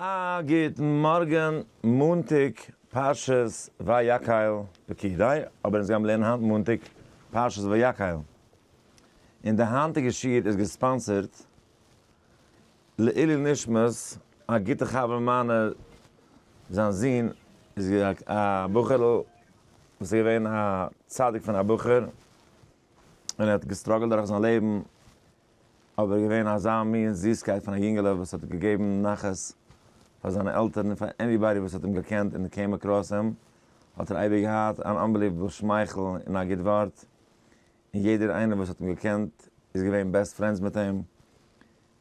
א גוטן מארגן, מאנטאג פרשת ויקהל וכדו', אבער אונז גיימער לערנען היינט מאנטאג פרשת ויקהל, און די היינטיגע שיעור איז געספאנסערט לעילוי נשמת א גוטע חבר מיינער, זיין זון איז געווען א בחור'ל וואס איז געווען א צדיק פון א בחור, און ער האט געסטראגעלט דורך זיין לעבן, אבער געווען אזא מין זיסקייט פון א יונגעלע וואס האט געגעבן נחת פאר זיינע עלטערן און פאר עניבאדי וואס האט אים געקענט און קעים אקראס אים האט ער אייביג געהאט אן אנבעליוועבל שמייכל און א גוט ווארט און יעדער איינער וואס האט אים געקענט איז געווען בעסט פרענדס מיט אים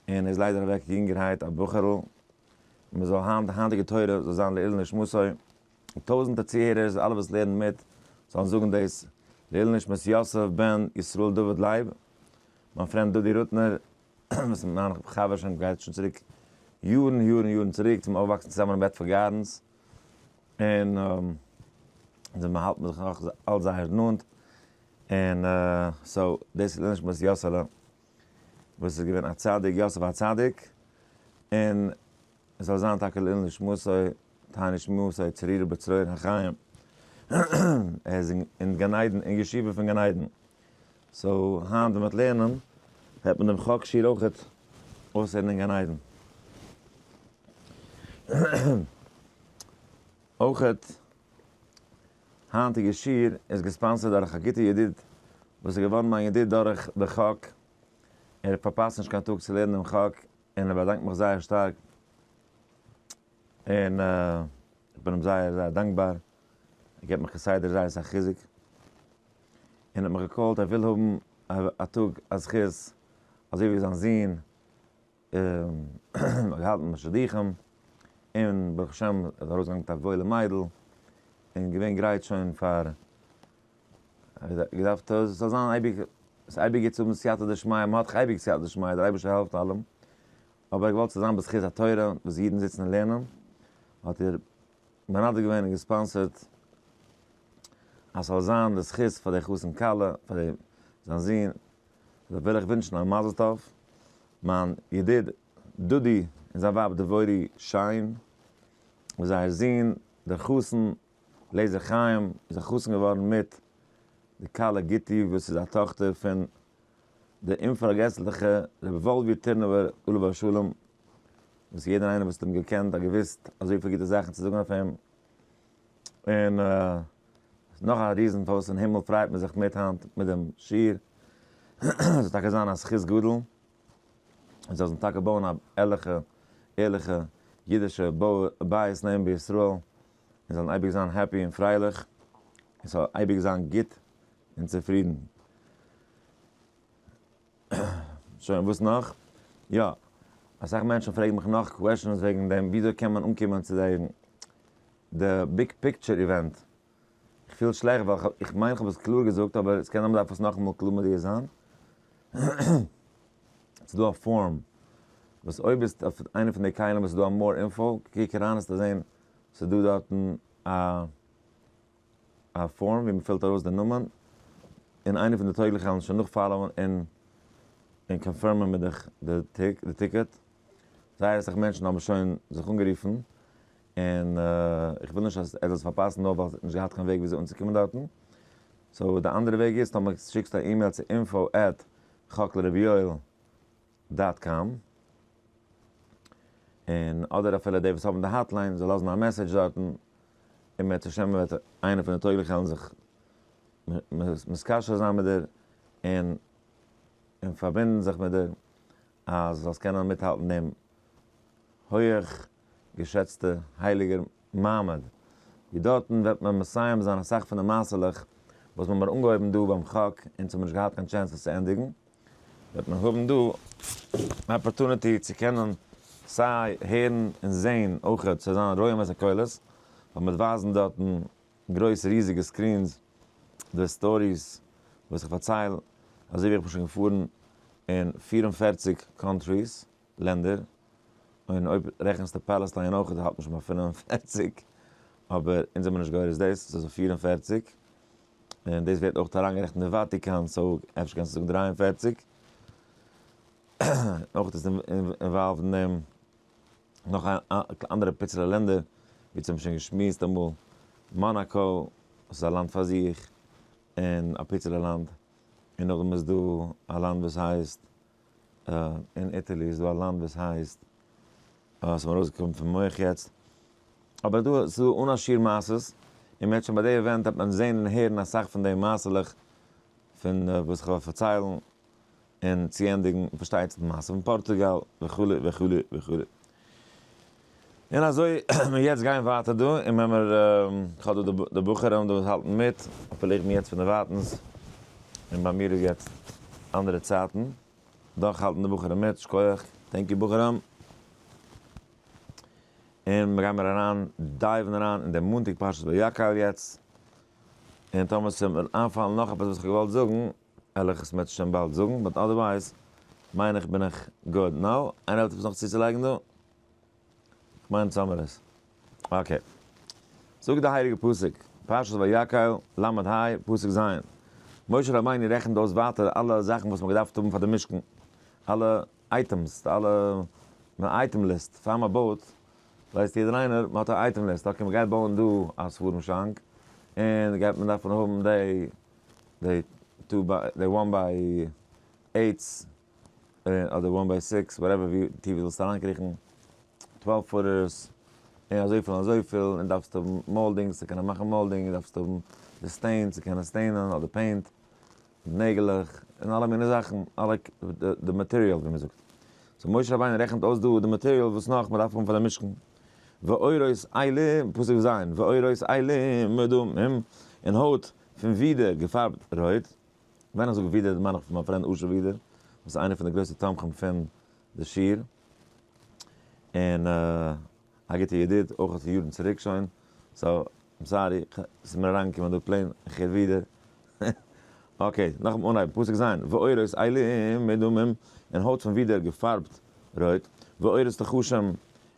און איז ליידער אוועק יונגערהייט א בחור'ל מען זאל היינט די היינטיגע תורה זאל זיין לעילוי נשמתו. און טויזענטער צוהערערס אלע וואס לערנען מיט זאלן זאגן דאס לעיל נשמת יוסף בן ישראל דוד לייב, מיין פרענד דודי רוטנער, וואס מיין חבר שוין גייט שוין צוריק יארן יארן יארן צוריק צום אויפוואקסן צוזאמען אין בעדפארד גארדענס, און זיי מ'האלט מיר זיך נאך אלץ זייער נאנט, און סאו דאס איז לעיל נשמת יוסעלע וואס איז געווען א צדיק יוסף הצדיק, און עס זאל זיין טאקע לעילוי נשמתו תענית שמועתו צרויה בצרור החיים, ער איז אין גן עדן אין ישיבה פון גן עדן, סאו היינט ווען מען וועט לערנען וועט מען דעם חק שיעור אויכעט אויסהערן אין גן עדן. אויכעט היינטיגע שיעור איז געספאנסערד דורך א גוטע ידיד וואס איז געווארן מיין ידיד דורך די חק, ער פארפאסט נישט קיין טאג צו לערנען דעם חק, און ער באדאנקט מיך זייער שטארק, און איך בין אים זייער זייער דאנקבאר, ער געבט מיך כסדר זייער אסאך חיזוק, און האט מיך געקאלט ער וויל האבן א טאג א זכות אזוי ווי זיין זון האט געהאלטן א שידוכים, און ברוך השם איז ארויסגעגאנגען מיט א וואוילע מיידל, און געווען גרייט שוין פאר. געדארפט אז עס זאל זיין אייביג, ס'איז אייביג גוט צו האבן סייעתא דשמיא, מען האט דאך אייביג סייעתא דשמיא, דער אייבערשטער העלפט אלעם, אבער ער האט געוואלט ס'זאל זיין בזכות התורה, וואס אידן זיצן און לערנען, האט ער מנדב געווען און געספאנסערט אז ס'זאל זיין די זכות פאר די חתן כלה, פאר די זיין זון, דערפאר וויל איך ווינטשן א מזל טוב מיין ידיד דודי און זיין ווייב דבורי שיין, וואס זייער זון דער חתן לעזער חיים איז א חתן געווארן מיט די כלה גיטי וואס איז א טאכטער פון דער אומפארגעסליכע רבי וואלווי טורנובער עליו השלום, וואס יעדער איינער וואס האט אים געקענט האט געוואוסט אזויפיל גוטע זאכן צו זאגן אויף אים, און נאך א ריזן פארוואס אין הימל פריידט מען זיך מיט היינט מיט דעם שיעור, עס זאל טאקע זיין א זכות גדול, און זיי זאלן טאקע בויען א ערליכע ערליכע אידישע בית נאמן בישראל, און זאלן אייביג זיין העפי און פרייליך, און ס'זאל אייביג זיין גוט און צופרידן. שוין, וואס נאך? יא, אסאך מענטשן פרעגן מיך נאך קוועשאנס וועגן דעם וויאזוי קען מען אנקומען צו די די ביג פיקטשער איווענט. איך פיל שלעכט ווייל כ'האב, איך מיין כ'האב עס קלאר געזאגט אבער ס'קען זיין מ'דארף עס נאכאמאל קלאר מודיע זיין. ס'איז דא א פארום וואס אויב ביסט אויף איינע פון די קיילים וואס איז דא א מאר אינפאו, קוק אריין העסטו זען ס'איז דא דארטן א א פארם ווי מ'פילט ארויס די נאמען, און איינער פון די טויגליכע וועלן שוין נאכפאלאוען און און קאנפירמען מיט דיך די טיק די טיקעט. זייער אסאך מענטשן האבן שוין זיך אנגערופן, און איך וויל נישט אז ער זאל עס פארפאסן נאר ווייל ס'האט נישט געהאט קיין וועג וויאזוי אנצוקומען דארטן. סאו די אנדערע וועג איז טאמער שיקסטו א אימעיל צו info at chocle rav yoel. דאט קאם, און אדער אפילו די וואס האבן די האטליין זאל לאזן א מעסעדזש דארטן, און בעזהשי ת וועט איינער פון די טויגליכע העלן זיך מתקשר זיין מיט דיר, און און פארבינדן זיך מיט דיר, אז זאלסט קענען מיטהאלטן דעם הויעך געשעצטע הייליגער מעמד, ווי דארטן וועט מען מסיים זיין אסאך פון די מעשה'לעך וואס מ'האמיר אנגעהויבן דא ביים חק אונז האמיר נישט געהאט קיין טשענס עס צו ענדיגן, וועט מען האבן דא אן אפארטוניטי צו קענען סיי הערן און זעהן אויכעט ס'וועט זיין רעימת הקולות ווען מ'וועט ווייזן דארטן גרויס ריזיגע סקרינס די סטאריס וואס איך פארצייל אזוי ווי איך בין שוין געפארן אין פֿיר און פֿערציק קאנטריס. לענדער, און אויב רעכנסטו פאלעסטיין אויך איז האלט נישט ביי פֿינף און פֿערציק, אבער אונז זעמיר נישט גורס דאס, ס'איז אויף פֿיר און פֿערציק, און דאס ווערט אויך אריינגערעכנט די וואטיקאן, סאו אפשר קענסטו זאגן דרײַ און פֿערציק, אויך איז אינוואלווד אין דעם נאך אנדערע פיצעלע לענדער, ווי צום שוין געשמועסט אמאל מאנאקא, וואס איז א לאנד פאר זיך, און א פיצעלע לאנד, און נאכדעם איז דא א לאנד וואס הייסט אין איטעלי איז דא א לאנד וואס הייסט, ס'איז מיר ארויסגעקומען פון מח יעצט, אבער דא איז דא אן א שיעור מעשות, און מ'העט שוין ביי די עווענט העט מען זען און הערן אסאך פון די מעשה'לעך פון וואס כ'וועל פארציילן און צוענדיגן, פארשטייט זיך די מעשה פון פארטוגאל וכו' וכו' וכו'. און אזוי מיר יעצט גייען ווייטער דא און ווען מיר כ'האב דא די די בחורים דא וואס האלטן מיט, אפילו איך בין יעצט פונדערווייטנס און ביי מיר איז יעצט אנדערע צייטן, דאך האלטן די בחורים מיט, שכוח, טענק יו בחורים. און מיר גיימיר אריין דייוון אריין אין די מאנטאג פרשת ויקהל יעצט, און טאמער ס'וועט מיר איינפאלן נאך עפעס וואס כ'האב געוואלט זאגן, עלעכס מעט שוין באלד זאגן, באט אדערווייז מיין איך בין איך גוד נאו. איינער האט עפעס נאך צוצולייגן דא? כ'מיין עס האמער עס. אקעי. זאגט די הייליגע פסוק, פרשת ויקהל, ל' ה, פסוק ז', משה רבינו רעכנט אויס ווייטער אלע זאכן וואס מ'האט געדארפט האבן פאר די משכן, אלע אייטעמס, די אלע אייטעם ליסט, פאר מ'בויט, ווייסט יעדער איינער, מ'האט א אייטעם ליסט, אקעי מ'גייט בויען דא א ספרים שאנק, און גייט מען דארפן האבן די דעי טו ביי דעי וואן ביי עיטס אדער וואן ביי סיקס וואטעווער ווי טיף דו ווילסט אריינקריכן טוועלוו פוטערס און אזויפיל און אזויפיל און דארפסט האבן מאלדינג צו קענען מאכן מאלדינג און דארפסט האבן די סטעין צו קענען סטעינען אדער פעינט נעגלעך און אלע מיני זאכן אלע די מאטעריאל ווי מען זאגט סאו משה רבינו רעכנט אויס דא די מאטעריאל וואס נאך מען דארף האבן פאר די משכן ואורות עילים פסוק ז' ואורות עילים מדמים און הויט פון ווידער, געפארבט רויט. ווען איך זאג ווידער מיין איך פון מיין פרענד אשר ווידער, וואס איז איינער פון די גרויסע תומכים פון די שיר, און א גוטע ידיד אויך פון יארן צוריק שוין, סאו איים סארי, ס'איז מיר אריינגעקומען דא פלעין, איך הער ווידער. אקעי, נאכן אנהייבן, פסוק ז', ועורות עלים מדמם, און הויט פון ווידער געפארבט רויט, ועורות תחושים,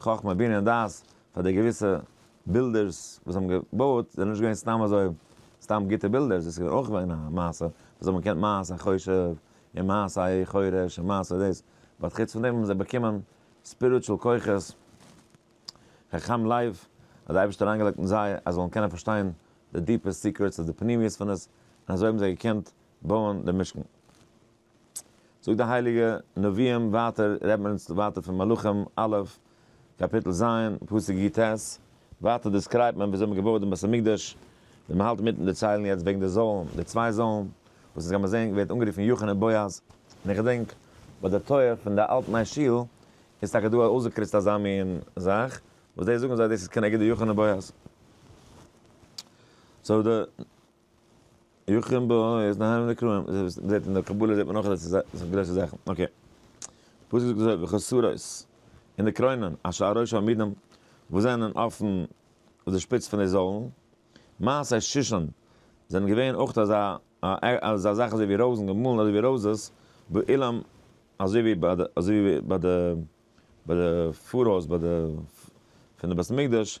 חכמה בינה און דעת פאר די געוויסע בילדערס וואס האבן געבויעט זענען נישט געווען סתם אזוי סתם גוטע בילדערס דאס איז געווען אויך געווען א מעשה וואס האבן געקענט מעשה חושב און מעשה א חורש און מעשה דאס באט חוץ פון דעם האבן זיי באקומען ספיריטשול כוחות חכם לב האט די אייבערשטער אריינגעלייגט אין זיי אז זיי זאלן קענען פארשטיין די דיפע סיקרעטס אדער פנימיות פון עס און אזוי האבן זיי געקענט בויען די משכן. זאגט די הייליגע נביאים ווייטער רעדט מען אונז ווייטער פון מלכים א' קאפיטל ז' פסוק י ט, ווייטער דעסקרייבט מען וויאזוי מען האט געבויעט דעם בית המקדש, ווי מען האלט אינמיטן דערציילן יעצט וועגן די זאלן, די צוויי זאלן, וואס אונז גיימער זען ווערט אנגערופן יאכין און בועז, און איך געדענק ביי די טויער פון די אלט ניי שול איז טאקע דא אויסגעקריצט אזא מין זאך, וואס דאס זאגן זיי דאס איז כנגד די יאכין און בועז, סאו די. יחכם בו, ער איז נהנה מן הקראים, דאס איז וואס מ'זעט אין די קבלה זעט מען נאך אז עס איז גרויסע זאכן, אקעי. פסוק זאגט אזוי וחסרות, און די קרוינען אשר על ראש העמודים וואס זענען אויפן אויף די שפיץ פון די זוילן, מעשה שושן זענען געווען אויך אזא אזא זאך אזוי ווי רויזן געמאלן אזוי ווי רויזעס באולם אזוי ווי ביי די אזוי ווי ביי די ביי די פארהויז ביי די פון די בית המקדש.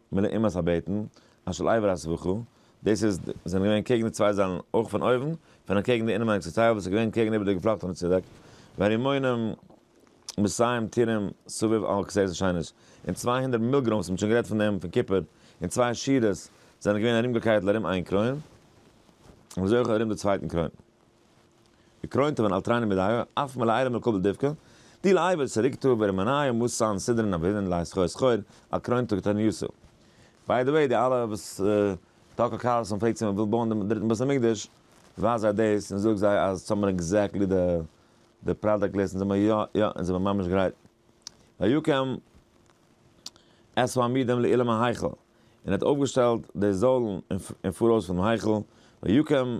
מילא אימת הבטן, אשל אייווער א ס וכו, דאס איז זענען געווען קעגן די צוויי זיילן אויך פון אויבן, פון און קעגן די אינעווייניגסטע טייל וואס איז געווען קעגן איבער די געפלאכטענע צודעק, והרימונים מסיים טירם סביב על כסאות השמש, און צוויי הונדערט מילגרום'ס מ'האט שוין גערעדט פון דעם פון כיפור, און צוויי שורות זענען געווען ארומגעקייטל ארום איין קרוין, און אזוי אויך ארום די צווייטן קרוין. געקרוינט און אל תראני מדייו, אף מלא עירום אל קבל דבקה, די לאי' ווער ס'רוקט טאר ווער ומנאיו מוז צאלן סדרן אבהילן לייז חור סחור, א קרוין טאג טאר ניו סעיל. ביי דע וועי די אלע וואס טאקע קארלסאן פרעגט צו מען וויל בויען דעם דריטן בית המקדש, ווייז זיי דאס און זאג זיי אז ס'האמער עקזעקטלי די די פראדאקט ליסט און זיי מיר יא יא אונז זעמער ממש גרייט ויקם עשו עמידם לאילם ההיכל און ער האט אויפגעשטעלט די זוילן אין פאראויס פונעם היכל ויקם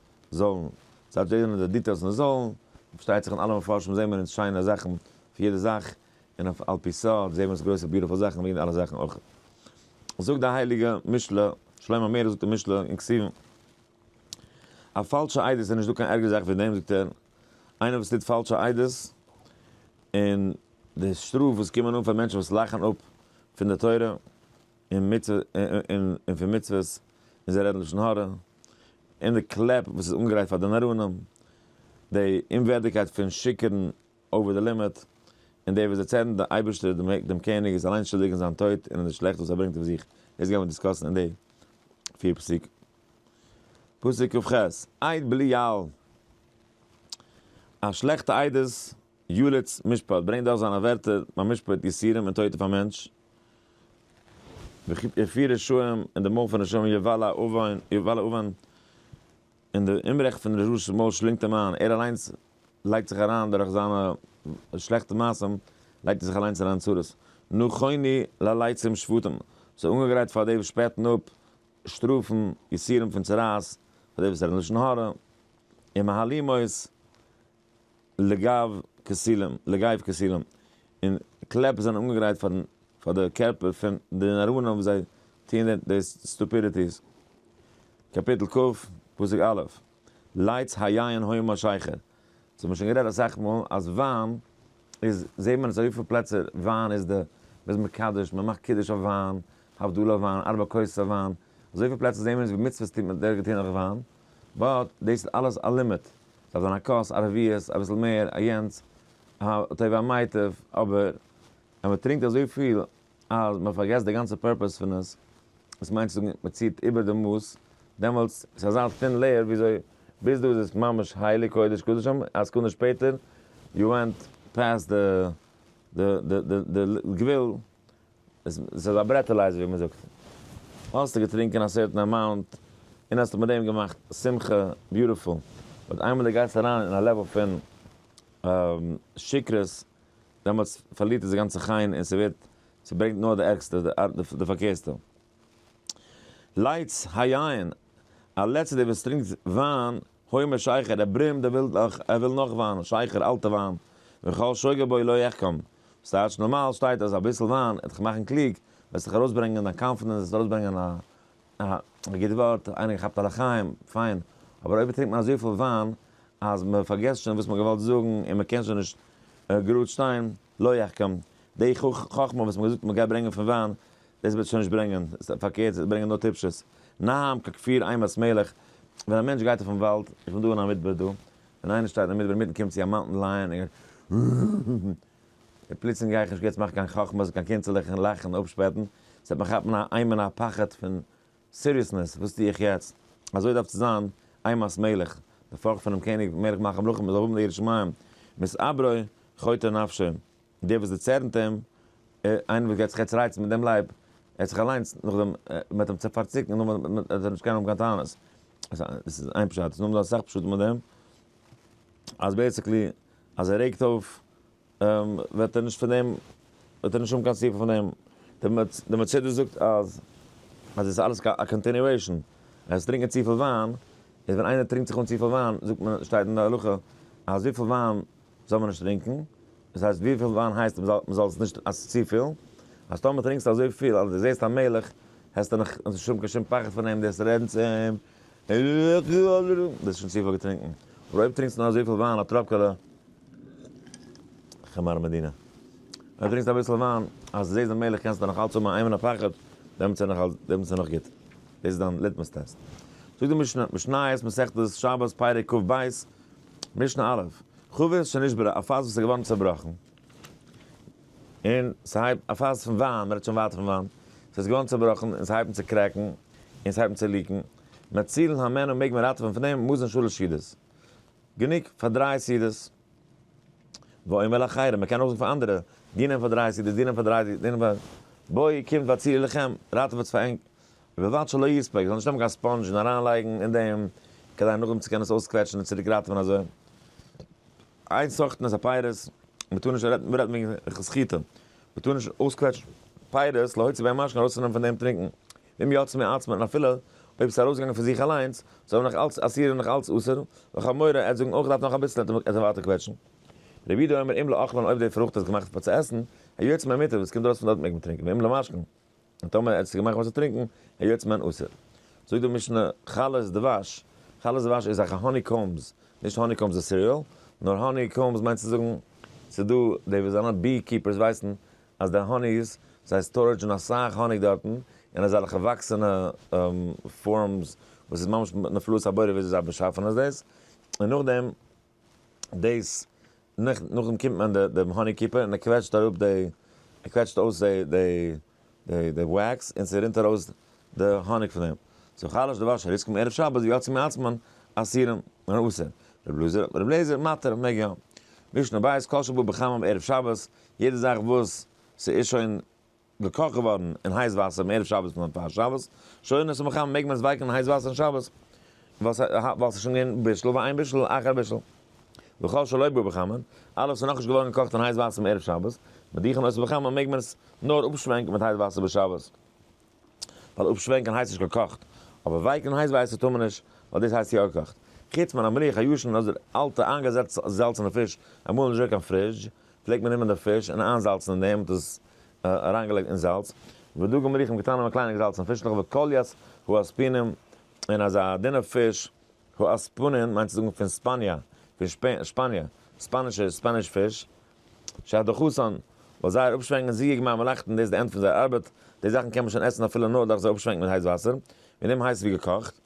זאלן זיי דזשענערן די דיטעילס און זאלן, פארשטייט זיך אין אלע מפרשים זעהן מיר אונז שיינע זאכן פון יעדע זאך, און אויף על פי סוד זעהן מיר אונז גרויסע ביוטיפול זאכן ווי אין אלע זאכן אויך. זאגט די הייליגע משלי, שלמה המלך זאגט אין משלי אין כתובים, א פאלשע עדות איז נישט דא קיין ערגערע זאך ווי דעם, זאגט ער, איינער וואס טוט פאלשע עדות, און די שטראף וואס קומען אן פאר מענטשן וואס לאכן אפ פון די תורה און מצוה און פון מצוות און זיי רעדן לשון הרע, און די קלעפ וואס איז אנגעלייגט פאר די נעראנים, די אומווערדיגקייט פון שיקערן אווער די לימיט, און די וואס דערצערן די אייבערשטער דעם קעניג איז אליין שולדיג אין זיין טויט און אין די שלעכטס וואס ער ברענגט אויף זיך, דאס גייען מיר דיסקאסן אין די פיר פסוקים. פסוק כ ח, עד בליעל, א שלעכטע עדות, יליד'ס משפט, ברענגט דאך זיינע ווערטער, מיין משפט יסורים און טויט אויף א מענטש, וכ א פיר רשעים אין די מויל פון רשעים יובל א אויבן יובל א אויבן און די אומרעכט פון רשע'ס מויל שלינגט אים איין, ער אליינס לייגט זיך אריין דורך זיינע שלעכטע מעשים לייגט ער זיך אליינס אריין אין צרות, נו כוני לליצים שפתים, זיי אנגעגרייט פאר די וואס שפעטן אפ שטראפן, יסורים פון צרעת, פאר די וואס רעדן לשון הרע, און מהלומות לגב כסילים, לגייב כסילים, און קלעפ זענען אנגעגרייט פארן פאר די קערפער פון די נאראנים וואס זיי טוען דער די סטופידיטיס. קאפיטל כ, פסוק א', לייטס היין הוי משייכר, ס'האט מען שוין גערעדט אסאך מאל אז וויין איז, זעהט מען עס אויף אזויפיל פלעצער, וויין איז די, מ'איז מקדש, מ'מאכט קידוש אויף וויין, הבדלה אויף וויין, ארבע כוסות אויף וויין, אזויפיל פלעצער זעהן מיר עס ווי מצוות טוט מען דער געטוהן דורך וויין. באט דאס איז אלעס א לימיט, ס'דארף זיין א כוס, א רביעית, אביסל מער, א יענץ, א טוב א מיטב, אבער אז מ'טרינקט אזויפיל אז מ'פארגעסט די גאנצע פורפעס פון עס, דאס מיינט צו זאגן מ'ציעט איבער די מאס, דעמאלטס איז אזא טין לעיער וויאזוי ביז דא איז עס ממש הייליג קודש קדשים, א סעקונדע שפעטער יו ווענט פעסט די גבול. עס איז א ברעטעלייזער ווי מען זאגט. האסטו געטרינקען א סערטען אמאונט און האסט מיט דעם געמאכט שמחה, ביוטיפול. באט איינמאל דו גייסט אריין אין א לעוועל פון שקרות, דעמאלטס פארלירט עס די גאנצע חן און ס'ווערט, ס'ברענגט נאר די ערגסטע, די פארקערסטע. לייטס הייען, א לעצער דער וואס טרינקט וויין, הוי אומר שייכער, ער ברומט, ער וויל נאך, ער וויל נאך וויין, שייכער, אלטע וויין, וכל שוגע בו לא יחכם, וואס טייטש נארמאל שטייט אז אביסל וויין וועט דיך מאכן קלוג, וועסט דיך ארויסברענגען דיין קאנפידענס, וועסט ארויסברענגען א א גוט ווארט, איינער געכאפט א לחיים, פיין, אבער אויב טרינקט מען אזויפיל וויין אז מען פארגעסט שוין וואס מען האט געוואלט זאגן און מען קען שוין נישט גראד שטיין, לא יחכם, די חכמה וואס מען האט געזאגט מען גייט ברענגען פון וויין, דאס וועט שוין נישט ברענגען, פארקערט עס וועט ברענגען נאר טיפשות. נהמ ק כפיר איימערס מלך, ווען א מענטש גייט אויפן וואלד, איך בין דא אין א מדבר דא, ווען איינער שטייט אין מדבר אינמיטן קומט צו א מאונטען לייען און גייט און פלוצלינג גיי איך נישט יעצט מאכן קיין חכמות און קיין קונצעלעך און לאכן און אפשפעטן, ס'וועט מיך כאפן א אימה און א פחד פון סיריעסנעס, וואס טו איך יעצט? אזוי דארף צו זיין, איי מאסט מלך, די פארכט פונעם קעניג מלך מלכי המלכים מען זאל האבן די יראת שמים, מסעברו חוטא נפשו, דער וואס דערצערנט אים, איינער וואס גייט זיך יעצט רייצן מיט דעם לייב, ער האט זיך אליינס נאכדעם מען האט אים צו פארציקן און נאכדעם וועט ער נישט קענען האבן קיין טענות, דאס איז איין פשט, עס איז נאך דא אסאך פשטים אויף דעם, אז בעיסיקלי אז ער רעגט אויף וועט ער נישט פון דעם, וועט ער נישט האבן קיין סיפוק פון דעם. די מצידה זאגט אז עס איז אלעס א קאנטינועישאן, ער איז טרינקען צופיל וויין, איז ווען איינער טרינקט זיך אן צופיל וויין, זאגט מען, שטייט אין די הלכה, אז וויפיל וויין זאל מען נישט טרינקען, דאס הייסט וויפיל וויין הייסט מען זאל עס נישט, אז עס איז צופיל, אז טאמער טרינקסטו אזויפיל אז די זעסט א מלך, העסטו נאך נישט האבן קיין שום פחד פון אים, דו העסט רעדן צו אים, ביסט שוין צופיל געטרינקן. אבער אויב טרינקסטו נאר אזויפיל וויין א טראפקעלע חמר מדינה. אויב טרינקסטו אביסל וויין אז זעהסט די מילך קענסטו נאך אלץ האבן א איימענע פחד, דעמאלטס איז נאך גוט. דאס איז דיין ליטמוס טעסט. זאגט די משנה, משניות מסכת שבת פרק כב ב, משנה א', חבית שנשברה, א פאס וואס איז געווארן צעבראכן, און ס'הייבט א פאס פון וויין, מ'רעדט שוין ווייט פון וויין, ס'איז געווארן צובראכן און ס'הייבן צו קרעקן און ס'הייבן צו ליקן, מצילין האמנו מעג מען ראטעווען פון דעם, מוזן שלש ידות, גענוג פאר דריי סעודות, ואומר לאחרים, מ'קען אויך זאגן פאר אנדערע, דיר נעמט פאר דריי סעודות, דיר נעמט פאר דריי, דיר נעמט פאר, בואי קומט והצילי לכם, ראטעוועטס פאר ענק, ובלבד שלא יספק, זאל נישט נעמען קיין ספאנדזש און אריינלייגן אין דעם, כדי נאכדעם צו קענען עס אויסקוועטשן און צוריק ראטעווען אזוי. איין סאכט נעס א פיירוס, מען טאר נישט רעדן, מ'רעדט וועגן איכות חיטה, מען טאר נישט אויסקוועטשן פיירוס להוציא בי המשקה ארויסצונעמען פון דעם טרינקן, ואם יצא מעצמו און אפילו אויב ס'איז ארויסגעגאנגען פון זיך אליינס, זאל מען נאך אלץ אסיר און נאך אלץ אסור, וחמורי, ער האט זאגן אויך געדארפט נאך אביסל האט ער ווייטער קוועטשן. רבי יודא אומר אם לאכלן אויב די פרוכט איז געמאכט פאר צו עסן, היוצא מהמיטב וואס קומט ארויס פון דארט מעג מען טרינקן, ואם למשקן, און טאמער ער האט עס געמאכט וואסער טרינקן, היות איז מען אסור. זאגט די משנה, חלות דבש, חלות דבש איז א האני קאומבס, נישט האני קאומבס די סיריעל, נאר האני קאומבס מיינט צו זאגן, ס'איז דא די וואס זענען בי קיפערס ווייסן אז די האניס, זיי סטארעדזשן אסאך האניג דארטן, און אזעלכע וואקסענע פארמס וואס איז ממש נפלאות הבורא וויאזוי זיי באשאפן עס דאס, און נאכדעם. דאס נאך נאכדעם קומט מען די דעם האני קיפער און ער קוועטשט אראפ די ער קוועטשט אויס די די די די וועקס און ס'רינט ארויס די האניג פון דעם סאו חלש דבש אריז כמ ערב שבת ווי עצום מעצמון אסירים און אסור רב לוזר רב לעזער מתיר מעג יא משנה בית כל שבא בחמם ערב שבת יעדע זאך וואס ס'איז שוין געקאכט געווארן אין הייס וואסער אום ערב שבת און פאר שבת שוין איז עס מחמם מעג מען עס ווייקן אין הייס וואסער אום שבת ווייל ווייל ס'איז שוין געווען בישול ואין בישול אחר בישול וכל שלא בא בחמין אלעס איז נאכנישט געווארן געקאכט אין הייס וואסער אום ערב שבת מדיחים עס בחמין מעג מען עס נאר אפשווענקן מיט הייס וואסער בשבת ווייל אפשווענקן הייסט נישט געקאכט אבער ווייקן אין הייס וואסער טאר מען נישט ווייל דאס הייסט יא געקאכט חוץ מן המליח הישן אדער אלטע איינגעזעצטע זעלצענע פיש אמאל נישט דא קיין פרידזש פלעגט מען נעמען די פיש און איינזאלצן אין דעם, מ'האט עס אריינגעלייגט אין זאלץ, ודגים מליחים קטנים א קליינע געזאלצענע פיש נאך וואס קאליאס הוא אספינין, און אזא דינע פיש, הוא אספנין מיינט צו זאגן פון ספאניא, פון שפאניע, ספאנישע, ספעניש פיש, שער די חסון, ווייל זייער אפשווענקן איז זיעג מים מלאכתן, דאס איז די ענד פון זייער ארבעט, די זאכן קען מען שוין עסן אפילו נאר דורך זיי אפשווענקן מיט הייס וואסער, און אים הייס ווי געקאכט.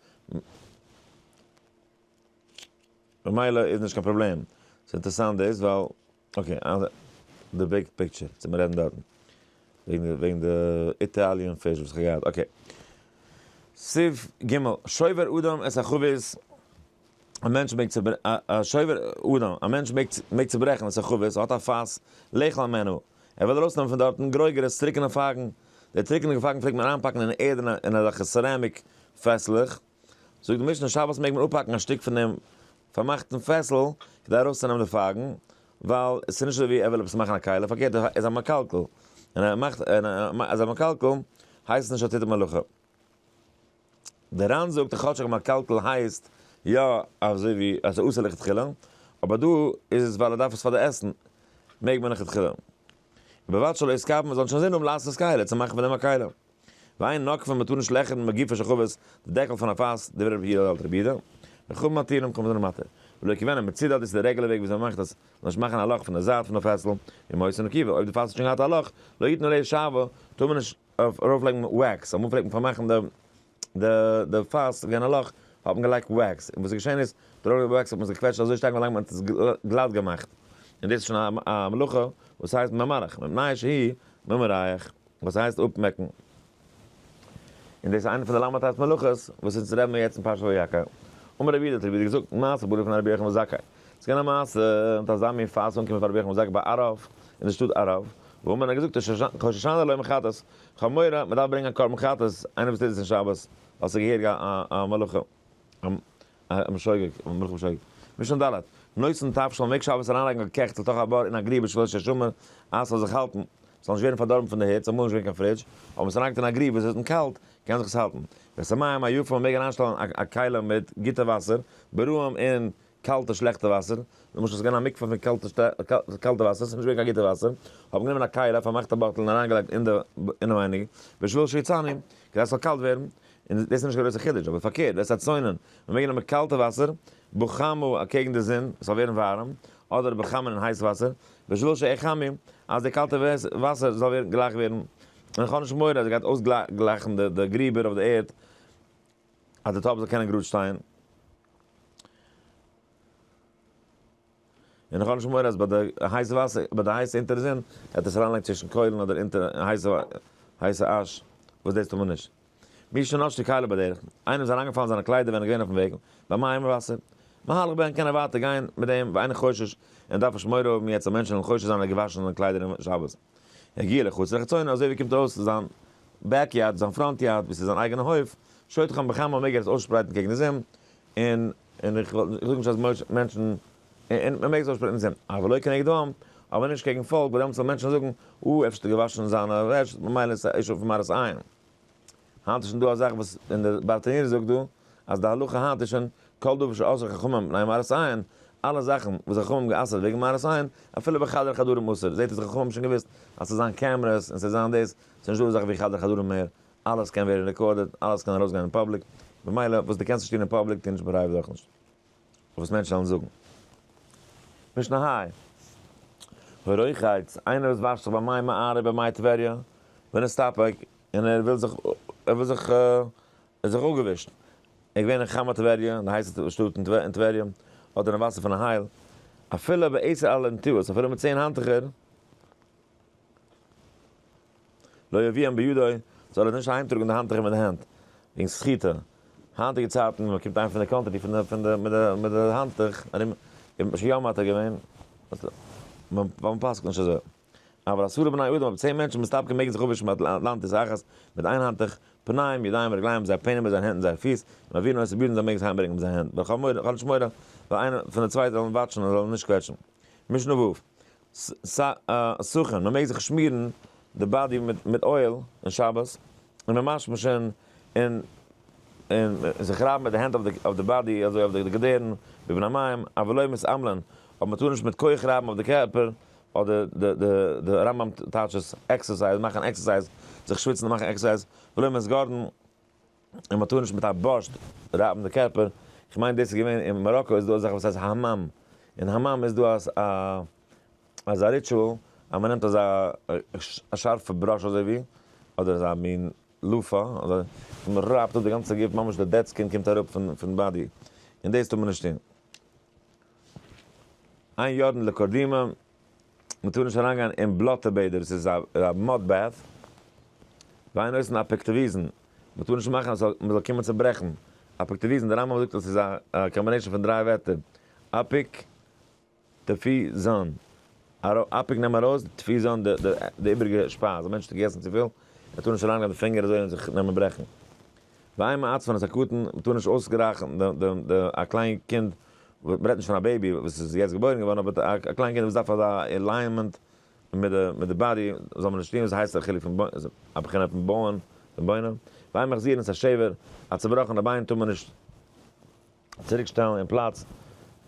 ממילא איז נישט קיין פראבלעם. ס'איז אינטערעסאנט דאס ווייל, אקעי, די ביג פיקטשער צו מ'רעדן דארטן, וועגן די איטאליען פיש וואס כ'האב געהאט, אקעי. סעיף ג' שובר אדם את החבית, א מענטש מעג צו, א שובר אדם, א מענטש מעג, מעג צוברעכן את החבית, האט א פאס, לאכול ממנו, ער וויל ארויסנעמען פון דארטן גרויגערעס, טרוקענע פייגן, די טרוקענע פייגן פלעגט מען אריינפאקן אין ערד אין אזעלכע סערעמיק פעסלעך, זאגט די משנה שבת מעג מען אפהאקן א שטיק פון דעם פארמאכטן פעסל כדי ארויסצונעמען די פייגן, ווייל עס איז נישט אזוי ווי ער וויל עפעס מאכן א קהלה, פארקערט ער איז א מקלקל, און ער מאכט און אז ער איז מקלקל הייסט עס נישט ער טוט די מלאכה. די רן זאגט אז כאטשיג מקלקל הייסט יא אזוי ווי אז עס איז אסור לכתחילה, אבער דא איז עס ווייל ער דארף עס פאר די עסן מעג מען לכתחילה, ובלבד שלא יסקב מען זאל נישט אינזין האבן לעשות קהלה צו מאכן פון דעם א קהלה. ואין נוקפין מען טאר נישט לעכערן מגופו של חבית די דעקל פון א פאס דברי רבי הלל אלטר בידע די חב ד מתירים כמ ז למטה ולא כבינם מצידא דאס איז די רעגולער וועג וויאזוי מען מאכט עס למשל מאכן א לאך פון די זייט פון די פעסל און מוסר נקיבה אויב די פאס האט שוין געהאט א לאך לא יתנו ליה שעבה טאר מען נישט ארויפלייגן וועקס אמאל פלעגט מען פארמאכן די די די פאס ס'איז געווען א לאך האט מען געלייגט וועקס און וואס איז געשען איז דורך די וועקס האט מען עס געקוועטשט אזוי שטארק ווילאנג מען האט עס גלאט געמאכט און דאס איז שוין א מלאכה וואס הייסט ממלח מפני שהי' ממרח. וואס הייסט אפמעקן? און דאס איז איינע פון די למה טייס מלאכות וואס אונז רעדן מיר יעצט אין פרשת ויקח. אמר רבי יהודה האט רבי יהודה געזאגט, מעשה ברור פון רבי יוחנן בן זכאי. ס'איז געווען א מעשה מיט אזא מין פאס אנקומען פאר רבי יוחנן בן זכאי ביי ערב אין די שטאט ערב, וואו מען האט געזאגט ראש השנה לוי' מחטאת, כ'האב מורא, מען דארף ברענגען א קרבן חטאת, איינער וואס טוט דאס אין שבת, ווייל ס'איז געהעריג א מלאכה. א משוגעת, א מלכות משוגעת. משנה ד', נושאין תבשל מעג שבת אריינלייגן א קעכטל תוך א בור אין א גריבע שלא ישומר, אז ס'זאל זיך האלטן, ס'זאל נישט ווערן פארדארבן פון די היץ, אמאל איז נישט געווען קיין פרידזש, אבער ווען ס'ליינגט אין א גריבע ס'איז און קאלט, קען זיך עס האלטן. ואת המים היפים, מען מעג אריינשטעלן א א כלי מיט גוטע וואסער, ברוים און קאלטע שלעכטע וואסער, למשל ס'געווען א מקווה פון קאלטע קאלטע וואסער, ס'נישט געווען קיין גוטע וואסער, האב גענומען א קייל, א פארמאכטע באטל און אריינגעלייגט אינעווייניג בשביל שיצאנו, כדי ס'זאל קאלט ווערן, און דאס איז נישט קיין גרויסע חידוש, אבער פארקערט, וועסט אצוינען, מ'מעג נעמען קאלטע וואסער, בחמה אקעגן די זון, ס'זאל ווערן ווארעם, אדער בחמין אין הייס וואסער, בשביל שיחמי, אז די קאלטע וואסער זאל גלייך ווערן, און איך האב נישט מורא אז עס גייט אויסגלייכן די גריבער אויף די ערד, אז די טאפ זאל קענען גראד שטיין. און איך האב נישט מורא אז ביי די הייסע וואסער, ביי די הייסע אונטער זון, וועט עס אריינלייגן צווישן קוילן אדער אונטער הייסע הייסע אש, וואס דאס טאר מען נישט. מי שנאש די כלה בדרך, איינעם איז אריינגעפאלן זיינע קליידער ווען ער איז געווען אויפן וועג, ביי מים און וואסער. מהלך בן קען ער ווייטער גיין מיט דעם ואין חושש, און דארף נישט מורא האבן יעצט אז מענטשן וועלן חושד זיין אז ער האט געוואשן זיינע קליידער אום שבת. הגיע לחוץ לחצונה אזוי ווי קומט אויס צו זיין בעק יארד, זיין פראנט יארד וואס איז זיין אייגענע הויף, שויתכם כמה וכמה מעג ער עס אויסשפרייטן קעגן די זון, און און איך זאג נישט אז מענטשן, און מען מעג עס אויסשפרייטן אין זון, אבל לא כנגד העם, אבער נישט קעגן פאלק, ווייל דעמאלטס וועלן מענטשן זאגן, אה, אפשר האט ער געוואשן זיינע וועש, ממילא איז עס א עישור פון מראית עין. היינט איז שוין דא א זאך וואס ווען דער בארטענירער זאגט דא אז די הלכה היינט איז שוין כל דבר שאסרו חכמים מפני מראית עין, אלע זאכן וואס די חכמים האבן גע'אסר'ט וועגן מראית עין, אפילו ביי חדר חדרים אסור, זעהט אויס די חכמים האבן שוין געוואוסט אז ס'זאל זיין קעמרעס און ס'זאל זיין דאס, ס'איז נישט דא אזעלכע ווי חדר חדרים מער, אלעס קען ווערן רעקארדעד, אלעס קען ארויסגיין אין פאבליק, ממילא וואס דו קענסט נישט טון אין פאבליק טו נישט פרייוועט אויך נישט. וואס מענטשן וועלן זאגן. משנה היי. הוראיכאיץ, איינער וואס וואשט זיך ביי מי מעריב אין מי טבריא, ווען עס טאפעק, און ער וויל זיך, ער וויל זיך, ער זיך אפגעווישט, ער איז געווען אין חמה טבריא, די הייסע שטאט אין טבריא, אדער אין וואסער פון הייל, אפילו בעשר אלענטאות, אפילו מיט צען האנטוכער, לא יביאם בידו, זאל ער עס נישט אהיימטראגן מיט די האנטוכער מיט די הענט, וועגן סחיטה, היינטיגע צייטן ווען מען קומט אהיים פון די קאנטרי פון די פון די מיט די מיט די האנטוך ארום, און יום האט ער געווען, ווייל מען פסק'ט נישט אזוי, אבל עשרה בני אדם, אויב צען מענטשן מסתפקים מעגן זיך אפווישן מיט לנטוס אחת, מיט איין האנטוך, פניים, ידיים, רגליים, זייער פענעם מיט זייער הענט און זייער פיס, און מען וויל נאר עס צובירן זאל מען מעגן עס אהיימברענגן מיט זייער הענט, ווייל כ'האב מורא, כ'האב נישט מורא, ווייל איינער פון די צווייטע זאל אים וואטשן און זאל אים נישט קוועטשן. משנה ו', סוכן, מען מעג זיך שמירן די באדי מיט אויל אין שבת, און מען משמושען און און זיך רייבן מיט די הענט אויף די באדי אזוי אויף די געדערן ווי בין המים, אבל לא מסעמלין, אבער מען טאר נישט מיט כח רייבן אויף די קערפער, אדער די די די רמב ם טייטש עס עקסערסייז, מאכן עקסערסייז, זיך שוויצן און מאכן עקסערסייז, ולא מסגרן. און מען טאר נישט מיט א בארשט רייבן די קערפער, איך מיין דאס איז געווען אין מאראקא איז דא אזעלכע וואס הייסט האמאם, אין האמאם איז דא א אזא ריטשועל אז מען נעמט אזא א שארפע בראש אזוי ווי אדער אזא מין לופא און מען רייבט אפ די גאנצע גוף ממש די דעד סקין קומט אראפ פון פון באדי, און דאס טאר מען נישט טון. איין יארן לקדימה. מען טאר נישט אריין גיין אין בלאטע בעדער, עס איז א מאד בעט, וויין אויסן אפעקטעוויזן, מען טאר נישט מאכן אז מען זאל קומען צו ברעכן, אפעקטעוויזן, דער רמב ם זאגט אז עס איז א קאמבינעישן פון דריי ווערטער, אפעק טפי זן, אפעק נעם ארויס, טפי זן די איבריגע שפייז, א מענטש האט געגעסן צופיל, ער טאר נישט אריין גיין די פינגער אזוי און זיך נעמען ברעכן, וויי מעץ פאר אונז הקטן, מ'טאר נישט אויסגרייכן די א קליין קינד, מ'רעדט נישט פון א בעיבי וואס איז יעצט געבוירן געווארן, אבער א קליין קינד וואס דארף אזא עלייענמענט מיט די מיט די באדי, זאל מען נישט טון וואס ס'הייסט א חילוק פון א בחינה פון בויען פון בוינען, וויי מחזירן את השבר, א צובראכענע ביין טאר מען נישט. צוריקשטעלן אין פלאץ,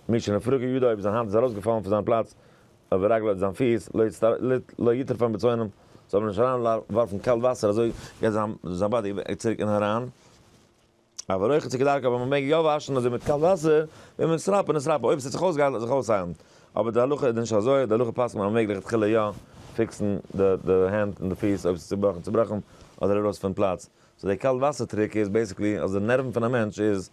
מי שנפרקו ידיו אויב זיין האנט איז ארויסגעפאלן פון זיין פלאץ, אויב רגלו אדער זיין פיס, לא יצטר ל לא יטרפן בצונם, זאל מען נישט אריין ווארפן קאלט וואסער אזוי גייט זיין זיין באדי צוריק אין אריין, אבער אויך איז כדרכו ווען מען מעג יא וואשן אזוי מיט קאלט וואסער, ווען מען סראפען איז סראפען אויב עס האט זיך אויסגעהיילט האט זיך אויסהיילן, אבער די הלכה איז נישט אזוי, די הלכה פסק'נט אז מען מעג לכתחילה יא פיקסן די די הענט און די פיס אויב עס איז צובראכן צובראכן אדער ארויס פון פלאץ, סאו די קאלט וואסער טריק איז בעיסיקלי אז די נערוון פון א מענטש איז.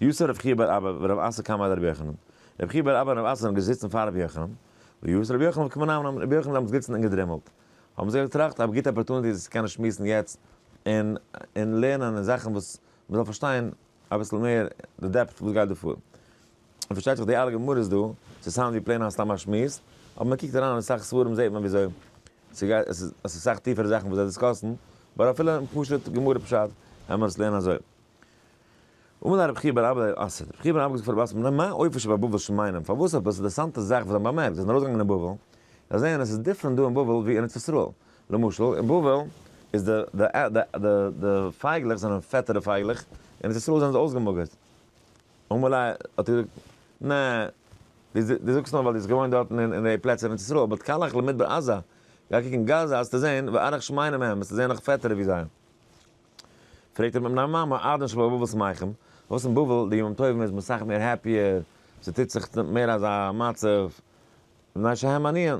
יוסף רבי חייא בר אבא ורבי אסא קאם אל רבי יוחנן, רבי חייא בר אבא און רבי אסא זענען געזיצן פאר רבי יוחנן, ויוס רבי יוחנן וקם ונאם להם, רבי יוחנן איז דעמאלטס געזיצן און געדרימלט, האבן זיי געטראכט א גוטע אפערטוניטי זיך צו קענען שמועסן יעצט און און לערנען און זאכן וואס מען זאל פארשטיין אביסל מער די דעפט וואס גייט דא פאר, און פארשטייט זיך די אלע גמרות דא, ס'איז סאונד ווי פלעין א סתם א שמועס, אבער מען קוקט אריין אין אסאך ספרים זעט מען וויאזוי ס'גייט, עס איז אסאך טיפערע זאכן וואס זיי דיסקאסן, באט אפילו אין פשוט גמרא פשט העמער עס לערנען אזוי. אמאל האט רבי חייא בר אבא ע ש רבי חייא בן אבא געזאגט פאר רבי אסעד נו מה אויפער שבבבל שמיינים פארוואס עפעס אינטערעסאנטע זאך וואס זיי האבן באמערקט זיי זענען ארויסגעגאנגען אין בבל זיי זעען עס איז דיפרענט דא אין בבל ווי אין ארץ ישראל למשל אין בבל איז די די די די די פייגלעך זענען פעטערע פייגלעך אין ארץ ישראל זענען זיי אויסגעמאגערט אמאל א האט ער געזאגט נע די די זאגסט נאר ווייל די האסט געוואוינט דארטן אין אין די פלעצער אין ארץ ישראל באט קאלעך למדבר עזה גיי קוק אין גאזא האסטו זעהן וארך שמיינים מהם וועסטו זעהן נאך פעטערע ווי זיי. פרעגט אים מיין מאמע אדון שבא בבל'ס מייכם, פארוואס אין בבל די ימים טובים איז מען סאך מער העפיער, ס'טוט זיך מער אזא מצב, מפני שהם עניים,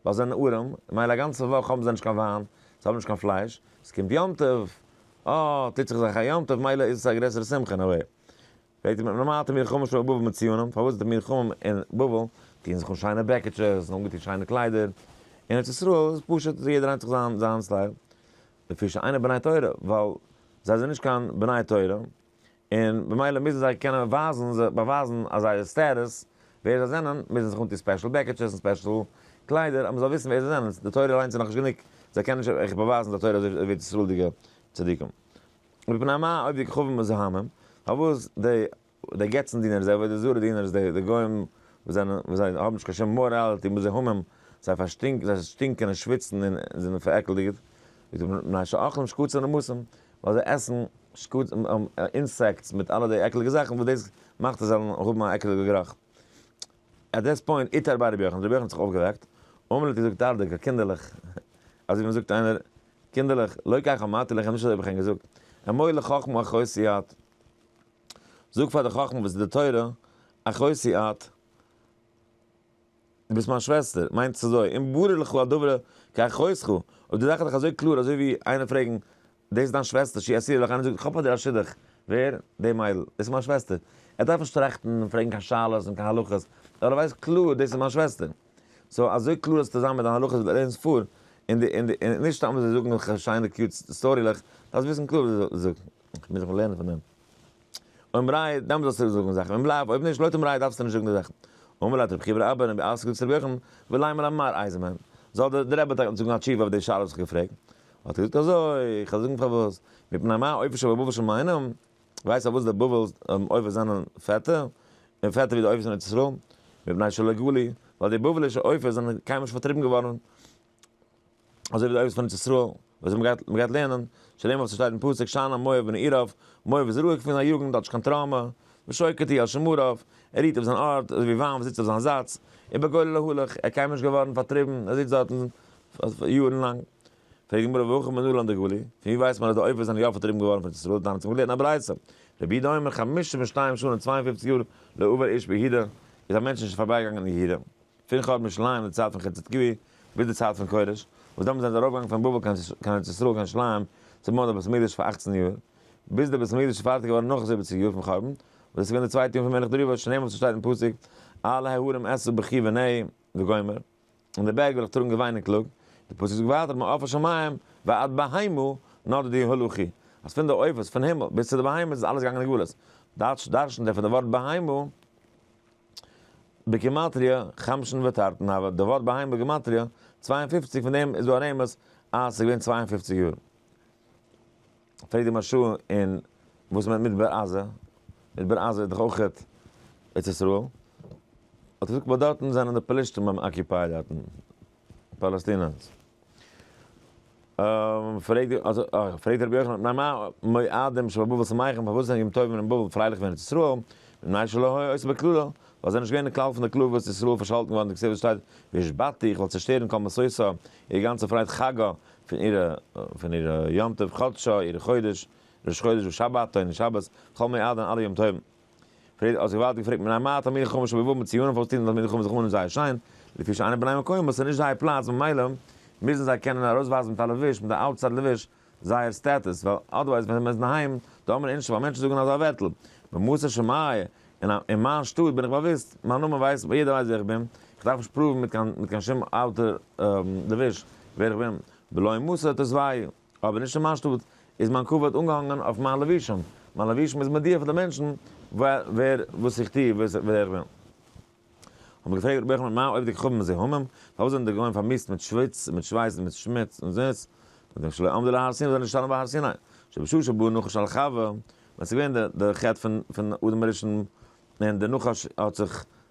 ווייל זיי זענען ארעם, ממילא א גאנצע וואך האבן זיי נישט קיין וויין, זיי האבן נישט קיין פלייש, ס'קומט יום טוב, אה, טוט זיך זיי א יום טוב, מילא איז עס א גרעסערע שמחה, נא ווער? פרעגט אים מיין מאמע האט מיר חמשה בבא בבא מציונים, פארוואס די מיר חמים אין בבל טוען זיך אן שיינע בעקיטשעס און אנגעטון שיינע קליידער, אין ארץ ישראל איז פשוט יעדער היינט זיך זיין סטייל, לפי שאינם בני תורה, ווייל זיי זענען נישט קיין בני תורה, און במילא מוזן זיי קענען ווייזן, זיך באווייזן אז זייער סטעטוס, ווער זיי זענען, מוזן זיך אנטון ספעשל בעקעטשעס און ספעשל קליידער, אז מען זאל וויסן ווער זיי זענען, די תורה אליינס איז נאכנישט גענוג, זיי קענען נישט אויך באווייזן די תורה אזוי ווי ארץ ישראל'דיגע צדיקים. מפני מה עובדי כוכבים מזוהמים, פארוואס די די געצן דינערס, די עבודה זרה דינערס, די גוים וואס זענען, וואס זיי האבן נישט קיין שום מאראליטי, מוז זיי המם, זיי פארשטינקן, זיי שטינקען און שוויצן און זענען פארעקלדיגעט, מפני שאוכלים שקצים נמסים, ווייל זיי עסן שקצים, אינסעקטס מיט אלע די עקליגע זאכן וואס דאס מאכט זיי זאלן האבן א עקליגע גערוך. עט דעס פוינט איטער ביי רבי יוחנן, רבי יוחנן האט זיך אויפגעוועקט, אמאל האט ער געזאגט ארטיגער, קינדערלעך, אזוי ווי מען זאגט איינער, קינדערלעך, לא כך אמרתי לכם, נישט אזוי האב איך ענק געזאגט, אמור לחכם אחוץ יד. זאג פאר די חכמה וואס איז די תורה, אחותי את, דו ביסט מיין שוועסטער, מיינט עס אזוי, אם ברור לך הדבר כאחותך, אויב די זאך איז דיך אזוי קלאר אזוי ווי איינער פרעגן, דאס איז דיין שוועסטער שהיא אסירה לך, איינער זאגט איך האב פאר דיר א שידוך, ווער? די מיידל, דאס איז מיין שוועסטער, ער דארף נישט טראכטן און פרעגן קיין שאלות און קיין הלכות, ווייל ער ווייסט קלאר דאס איז מיין שוועסטער, סאו אזוי קלאר זאלסטו זיין מיט דיין הלכות וואס דו לערנסט פאר, און נישט סתם אזוי זאגן וועלכע שיינע קיוט סטארילעך, דארפסט וויסן קלאר וואס דו זאגסט. מיר זאלן לערנען פון דעם. אויב מרייעט, דאן זאלסטו זאגן די זאכן, ממילא אויב נישט, לויטן מרייעט דארפסטו נישט זאגן די זאכן. אמר לה דרבי חייא אבער רבי אלעס קוק צו רבי יוחנן, ואולי מלא אמר אייזנמאן, זאל דער דער רבי טאקע זאגן א תשובה אויף די שאלה וואס איך האב געפרעגט. האט ער געזאגט אזוי, איך וועל זאגן פארוואס, מפני מה האופי של בבא של מיינעם, ווייסט פארוואס די בבל'ס אויפ'ס זענען פעטער, און פעטער ווי די אויפ'ס אין ארץ ישראל, מפני שלא גלו, ווייל די בבלישע אויפ'ס זענען קיינמאל נישט פארטריבן געווארן אזוי ווי די אבות פון ארץ ישראל וואס זיי האבן געהאט לערנען, שלים אויף צו שטייט אין פסוק שנה מואב בני עירוב, מואב איז רואיג פון זיין יוגנט, האט נישט קיין טראומא, ושוקט היא על שמריו, ער רוהט אויף זיין ארט, אזוי ווי וויין וואס זיצט אויף זיין זאץ, אין בגולה להלך, ער קיינמאל נישט געווארן פארטריבן, ער זיצט דארטן יארן לאנג. פרעגט די גמרא והכא מנלן די גלי', פון ווי ווייסט מען אז די עופות זענען יא פארטריבן געווארן פון ארץ ישראל, דאן האט מען געלערנט א ברייתא, רבי יהודה אומר חמשים ושתיים שנה צוויי און פופציג יאר לא עבר איש ביהודה, איז א מענטש נישט פארביי געגאנגען אין יהודה. פון חורבן ירושלים די צייט פון חצדקי' ביז די צייט פון כורש, וואס דעמאלטס זענען זיי ארויפגעגאנגען פון בבל קיין ארץ ישראל קיין ירושלים צו בויען די בית המקדש פאר אַכצן יאר, ביז די בית המקדש איז פארטיג געווארן נאך זיבעציג יאר פון חורבן, וואס דאס איז געווען די צווייטע יאר פון מלך דריווש שנעמען וואס עס שטייט אין פסוק אל ההרים אשא בכי ונהי וגומר און די בערג וועל איך טראגן געוויין און קלאג, די פסוק זאגט ווייטער מעוף השמים ועד בהמה נאדו די הלכי, אז פון די עופות פון הימל ביז צו די בהמות איז אלעס געגאנגען אין גלות, דארשן דערפון די ווארט בהמה. בגימטריא, חמשן ותרתן הוה, די ווארט בהמה בגימטריא, צוויי און פֿופֿציק, פון דעם איז דא א רמז אז עס איז געווען צוויי און פֿופֿציק יאר. פרעגט די משהו אין וואס מיינט מדבר עזה, מדבר עזה איז דאך אויך ארץ ישראל, האט ער געזאגט ווייל דארטן זענען די פלישתים ביים אקיופייד דארטן. פאלעסטינערס. פרעגט רבי יוחנן, ניין מה מועדים שבבבל שמחים, פארוואס זענען ימים טובים אין בבל פרייליך ווען אין ארץ ישראל, מפני שלא היה עושה בכללו, ווייל זיי זענען נישט געווען אין כלל פון די כלל וואס ישראל איז פארשאלטן געווארן די כסדר שטייט והשבתתי איך וועל צעשטערן כל משושה איר גאנצע פרייד חגא פון אירע פון אירע יום טוב חדשו איר חודש ראש חודש ושבתו און שבת כל מועדן אלע ימים טובים. פרידא האט זיך געוואלד געפרעגט מיט א מה תלמידי חכמים שבאו מציון פארוואס טוען די תלמידי חכמים זיך אן אין זייער שיין, לפי שאינם בני מקום וואס איז נישט זייער פלאץ ממילא מוזן זיי קענען ארויסווייזן מיט א לבוש מיט א אוטסייד לבוש זייער סטעטוס ווייל אדערווייז ווען מ'איז אינדערהיים דארף מען אינשטא ווייל מענטשן זאגן אזא ווערטל במוסר שמיא אין מיין שטאט בין איך באוויסט מיין נאמען ווייסט יעדער ווייסט ווער איך בין איך דארף נישט פראוון מיט קיין שום אוטער לבוש ווער איך בין בלא מוסר תוסווי'. אבער נישט אין מיין שטאט, איז מיין כבוד אנגעהאנגען אויף מיין לבישום, מיין לבישום איז מודיע פאר די מענטשן ווער וואס איך טוה, ווער איך בין. האט מען געפרעגט רבי יוחנן מה אויב די כוכבים מזוהמים, פארוואס זענען די גוים פארמיסט מיט שוויץ, מיט שווייס און מיט שמוץ און זיץ, זאגט ער שלא עמדו להר סיני, זיי זענען נישט געשטאנען ביי הר סיני, שבשושו בא נחש אל חוה, ווען ס'איז געווען די חטא פון אדם הראשון, און די נחש האט זיך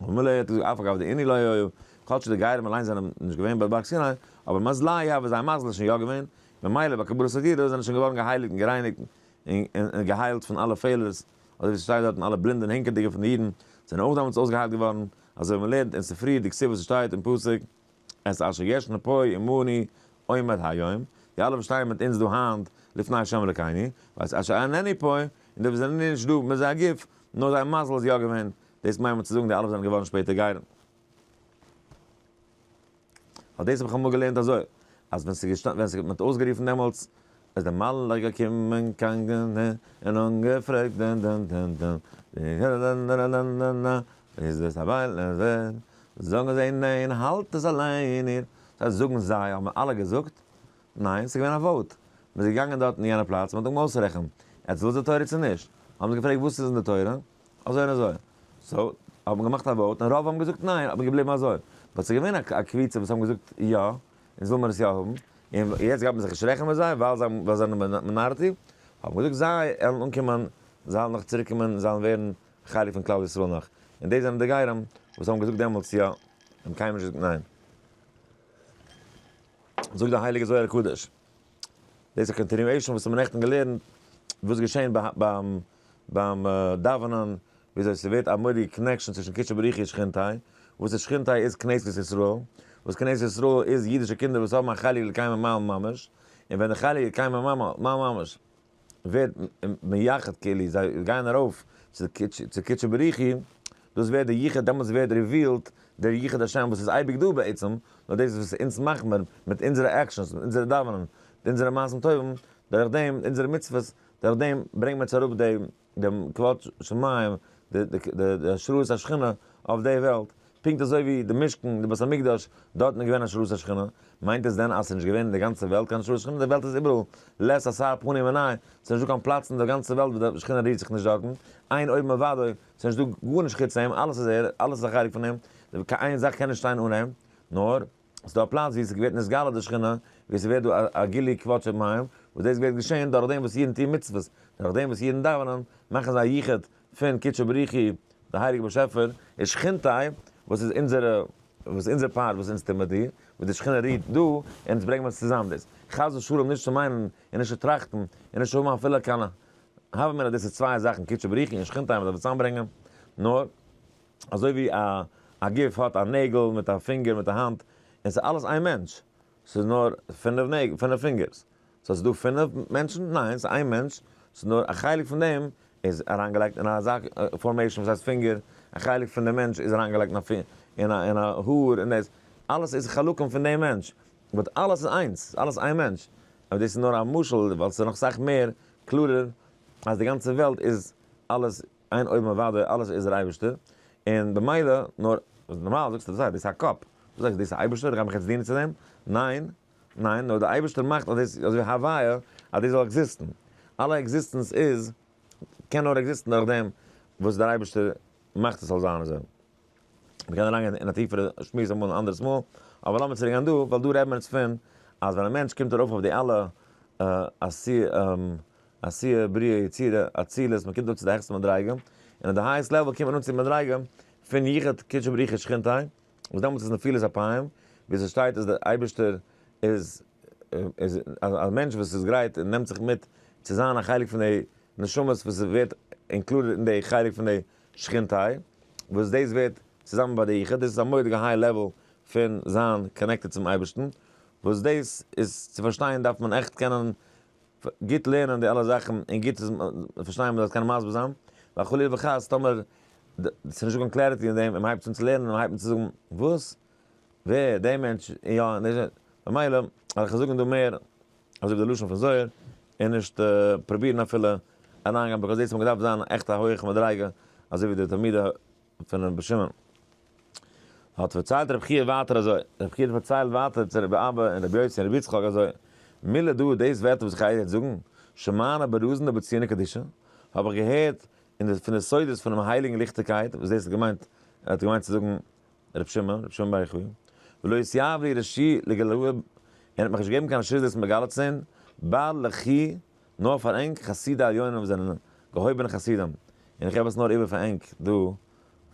וממילא האט ער געזאגט אף אגב דעיני לא היו, כל שכן די גרים אליינס זענען נישט געווען ביי באר סיני, אבער מזלי הא וואס זייער מזל איז שוין יא געווען, ממילא ביי קבלת הדירה זענען זיי שוין געווארן געהייליגט און גערייניגט און געהיילט פון אלע פעלערס, אזוי ווי ס'שטייט דארטן אלע בלינדע און הענקעדיגע פון די אידן זענען אויך דעמאלטס אויסגעהיילט געווארן, אזוי ווי מען לערנט אין ספרי די כתובות ס'שטייט אין פסוק את אשר יש נפוי עמני עומד היום, די אלע וואס שטייען מיט אונז דא היינט לפני ה' אלוקינו, ואת אשר אין נפוי, און די וואס זענען נישט דא מיט זייער גוף, נאר זייער מזל איז יא געווען דאס מיינט מען צו זאגן די אלע וואס זענען געווארן שפעטער גרים. ווייל דאס האב איך אמאל געלערנט אזוי, אז ווען ס'איז געשטאנען ווען ס'האט מען האט אויסגערופן דעמאלטס, איז דער מלאך געקומען קיין ג ט און אנגעפרעגט דעם דעם דעם דעם די ג ט נ ר נ נ נ איז דאס א בית לעזר? זאגן זיי ניין האלט עס אליין איר. ס'הייסט זאגן זיי האבן אלע געזאגט? ניין ס'איז געווען א וואוט. מ'איז געגאנגען דארטן אין יענע פלאץ מ'האט אמאל אויסרעכנט עטץ ווילט די תורה צו נישט. האבן זיי געפרעגט וואס איז אין די תורה? אזוי און אזוי. סאו, האט מען געמאכט א וואוט און רוב האבן געזאגט ניין, האט מען געבליבן אזוי. באט ס'איז געווען א קביצה וואס האבן געזאגט יא, אונז וויל מיר עס יא האבן, און יעצט גייט מען זיך נישט רעכענען מיט זיי ווייל זיי האבן, ווייל זיי זענען מינארעטי, האט מען געזאגט זיי עלן אנקומען, זיי עלן נאך צוריק קומען, זיי עלן ווערן חלק פון כלל ישראל נאך. און דאס זענען די גרים וואס האבן געזאגט דעמאלטס יא, האבן קיינמאל נישט געזאגט ניין. זאגט די הייליגע זוהר הקדוש. דאס איז א קאנטיניועישן וואס האבן נעכטן געלערנט וואס איז געשען ביים ביים דאווענען וויאזוי ס'ווערט א מורא'דיגע קאנעקשן צווישן קודשא בריך הוא שכינתי' וואס איז שכינתי' איז כנסת ישראל וואס כנסת ישראל איז אידישע קינדער וואס האבן א חלק לקיים ממעל ממש און ווען די חלק לקיים ממעל ממש ווערט מייחד כאילו זיי גייען ארויף צו קודשא בריך הוא, דאס ווערט די ייחוד, דעמאלטס ווערט ריווילד דער ייחוד השם וואס איז אייביג דא בעצם, נאר דאס וואס אונז מאכן מיר מיט אונזערע עקשאנס, מיט אונזערע דאווענען, מיט אונזערע מעשים טובים, דורך דעם, אונזערע מצוות, דורך דעם ברענגן מיר צו אראפ די דעם כבוד שמים, די השראת השכינה אויף די וועלט, פונקט אזוי ווי די משכן, די בית המקדש, דארטן איז געווען השראת השכינה, מיינט עס דען אז עס איז נישט געווען אין די גאנצע וועלט קיין השראת שכינה? די וועלט איז איבעראל לעת עשה פנים עיני, עס איז נישטא קיין פלאץ אין די גאנצע וועלט וואס די שכינה רירט זיך נישט דארטן, עיין אויבן אוודאי, עס איז נישטא גארנישט חוץ אים, אלעס איז ער, אלעס איז א חלק פון אים, קיין איין זאך קען נישט שטיין אן אים, נאר. ס'איז דא א פלאץ ווי ס'געווערט נסגלה די שכינה, ווי ס'ווערט דא א גילוי כבוד שמים, וואס דאס ווערט געשען דורכדעם וואס אידן טוהן מצוות, דורכדעם וואס אידן דאווענען, מאכן זיי א יחוד פון קודשא בריחי, די הייליגע באשעפער, און שכינתא, וואס איז אונזערע, וואס איז אונזער פארט וואס אונז טוהן מיט דיר, וואס די שכינה רועט דא, און אונז ברענגן מיר עס צוזאם דאס, חס ושלום נישט צו מיינען, און נישט צו טראכטן, און נישט צו האבן אפילו קיין הווא אמינא דאס איז צוויי זאכן קודשא בריחי און שכינתא וואס דארף צוזאמברענגען, נאר. אזוי ווי א א גוף האט א נעגל מיט א פינגער מיט א האנט, און ס'איז אלעס איין מענטש, ס'איז נאר פינף נעגל פינף פינגערס, סאו ס'איז דא פינף מענטשן? ניין, ס'איז איין מענטש, ס'איז נאר א חלק פון דעם איז אריינגעלייגט אין א זאך פארמעישן וואס הייסט פינגער, א חלק פון די מענטש איז אריינגעלייגט אין א פינ אין א אין א האר און דאס אלעס איז חלקים פון דעם מענטש, באט אלעס איז איינס, ס'איז אלעס איין מענטש, אבער דאס איז נאר א משל ווייל ס'איז נאך סאך מער קלארער אז די גאנצע וועלט איז אלעס. אין אויבן אוודאי אלעס איז דער אייבערשטער, און במילא נאר, נארמאל זאגסטו דאס זייט דאס איז א קאפ, דו זאגסט דאס איז אייבערשטער איך גיי מיך יעצט דינען צו דעם, ניין, ניין, נאר דער אייבערשטער מאכט אז דאס, אזוי הוויה, אז דאס זאל עקזיסטן, אלע עקזיסטענס איז, קען נאר עקזיסטן דורך דעם וואס דער אייבערשטער מאכט עס זאל זיין אזוי. מען קען אריינגיין אין א טיפערע שמועס אמאל אן אנדערעס מאל, אבער לאמיר צוריק גיין דא, ווייל דא רעדט מען יעצט פון אז ווען א מענטש קומט ארויף אויף די אלע עשיה בריאה יצירה אצילות מען קומט אראפ צו די העכסטע מדריגה און אויף די הייעסט לעוועל קומט מען אן צו די מדריגה פון יחוד קודשא בריך הוא שכינתא וואס דעמאלטס איז נפילת אפיים ווי עס שטייט אז דער אייבערשטער איז איז א מענטש וואס איז גרייט און נעמט זיך מיט צו זיין א חלק פון די נשמות וואס איז ווערט אינקלודעד אין די חלק פון די שכינתא וואס דאס ווערט צוזאמען ביי די יחוד דאס איז א מורא'דיגע היי לעוועל פון זיין קאנעקטעד צום אייבערשטן וואס דאס איז צו פארשטיין דארף מען עכט קענען גוט לערנען די אלע זאכן און גוט עס פארשטיין מ'זאל עס קענען מסביר זיין, ווייל חלילה וחס טאמער ס'איז נישטא קיין קלעריטי אין דעם און מ'הייבט אן צו לערנען און מ'הייבט אן צו זאגן וואס? ווער? דעי מענטש? יא און דעי ממילא וועל איך זאגן דא מער אזוי ווי די לשון פון זוהר און נישט פרובירן אפילו אריינגיין ביקאוז דאס האט געדארפט זיין עכט א הויעכע מדריגה אזוי ווי די תלמידי פונעם רבי שמעון האט פארציילט רבי חייא ווייטער אזוי, רבי חייא האט פארציילט ווייטער צו רבי אבא און רבי יוסי און רבי יצחק אזוי, מילא דא דאס ווערטער וואס איך גייער יעצט זאגן, שמענה ברוזין דבציינא קדישא, האב איך געהערט אין די פון די סודות פונעם הייליגן ליכטיגקייט, וואס דאס האט געמיינט, ער האט געמיינט צו זאגן רבי שמעון, רבי שמעון בר יוחאי, ולא התייב לי רשי לגלוה, און ער האט מיך נישט געגעבן קיין רשות דאס מגלה צו זיין, בא לחי נאר פאר ענק חסידי עליונים וואס זענען געהויבענע חסידים, און איך געב עס נאר איבער פאר ענק דא,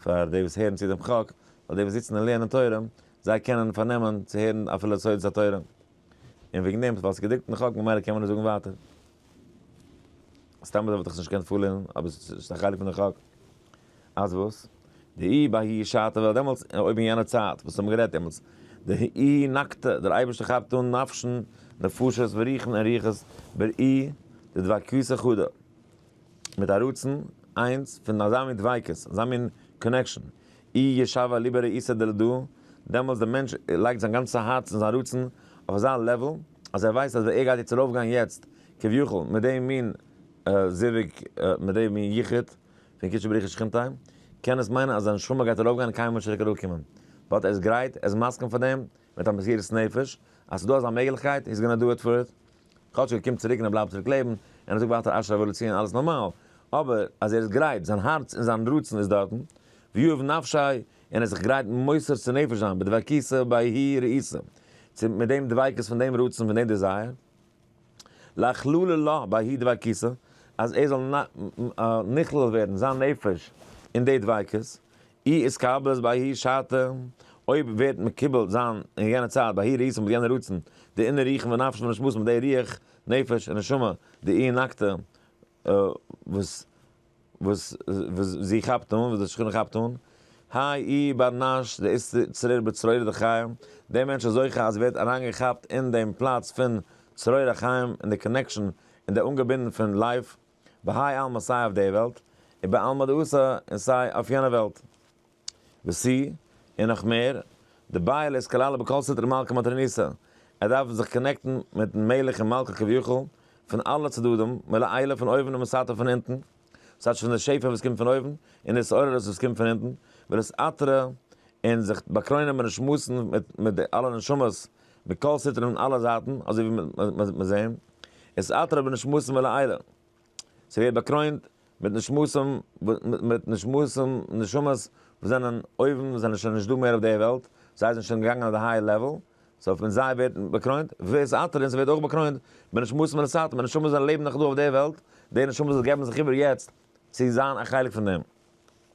פאר די וואס הערן צו דעם חק, ווייל די וואס זיצן און לערנען תורה, זיי קענען פארנעמען צו הערן אפילו סודות התורה, און וועגן דעם ווייל עס איז געדרוקט אין חק ממילא קען מען עס זאגן ווייטער. סתם אזוי וואלט איך עס נישט געקענט פארלערנען, אבער עס איז א חלק פון די חק. אז וואס? די אי בהאי שעתא וועלט דעמאלטס, אויב אין יענע צייט וואס האבן גערעדט דעמאלטס, די אי נקטא, דער אייבערשטער כאפט אן נפש'ן, נפשות ורוח'ן און רוחות בראי' דדבקות אחודה, מיט א רצון איינס פון אזא מין דביקות, אזא מין קאנעקשאן, אי ישבה ליבא ראיסא דלדא, דעמאלטס דער מענטש לייגט זיין גאנצע הארץ און זיין רצון אויף אזא לעוועל, אז ער ווייסט אז ער גייט יעצט ארויפגיין יעצט, כביכול, מיט די מין זיווג, מיט די מין יחוד. פון קודשא בריך איז שכינתא אין אים, קען עס מיינען אז זיין נשמה גייט ארויפגיין און קיינמאל נישט צוריק אראפקומען. באט ער איז גרייט, ער איז מסכים פאר דעם, מיט א מסירות נפש, אז ס'איז דא אזא מעגליכקייט, הי איז גאנא דו איט פאר איט. כאטש ער קומט צוריק און ער בלייבט צוריק לעבן, און ער זאגט ווייטער אשרי ואבוא לציון, אלעס נארמאל, אבער אז ער איז גרייט, זיין הארץ און זיין רצון איז דארטן, ויאהב נפשי, און ער איז זיך גרייט מוסר צו נפש זיין, בדבקיסא באי הי' ראיסא, צו מיט דעם דביקות פון דעם רצון, פון דעם דיזייער. להכללה לה בהאי דבעקיסא, אז ער זאל נכלל ווערן זיין נפש אין די דביקות, אי איסקבלת בהאי שעתה, אויב ווערט מקובל זיין אין יענע צייט בהאי ריסא מיט יענע רצון, די אינער רוחין ונפשין המשמעות מיט די רוח, נפש, און נשמה, די אי נקטה. וואס וואס וואס זי כאפט אן, וואס די שכנה כאפט אן, האי אי בר נש די איסט צרור בצרור דחיים, דער מענטש איז זוכה אז ער ווערט אריינגעכאפט אין דעם פלאץ פון צרור החיים, אין די קאנעקשאן, אין די אנגעבינדן פון לייף, בהאי עלמא סיי אויף די וועלט, ובעלמא דאתרא און סיי אויף יענע וועלט. וסי, און נאך מער, די בעל איז כללא בכל סטרא מלכא מתריניסא, ער דארף זיך קאנעקטן מיטן מלך און מלכא כביכול, פון אלע צדדים, מלעילה פון אויבן און מסתר פון אונטן, ס'הייט שוין די שפע וואס קומט פון אויבן, און די התעוררות וואס קומט פון אונטן, ולהתעטרה און זיך באקרוינען מיט די שמועסן מיט די אלע נשמות מכל סטרא און אלע זייטן, אזוי ווי מיר זעען, התעטרה בנשמתן מלעילה. ס'ווערט באקרוינט מיט נשמות'ם מיט נשמות'ם נשמות וואס זענען אויבן זענען שוין נישט דא מער אויף דער וועלט, זיי זענען שוין געגאנגען אויף די הייער לעוועל, סאו מיט זיי ווערט באקרוינט ווער ס'אתר און ס'ווערט אויך באקרוינט מיט נשמות מן הסתם מיט נשמות וואס לעבן נאך דא אויף דער וועלט, די נשמות וואס געבן זיך איבער יעצט צו זיין א חלק פון דעם.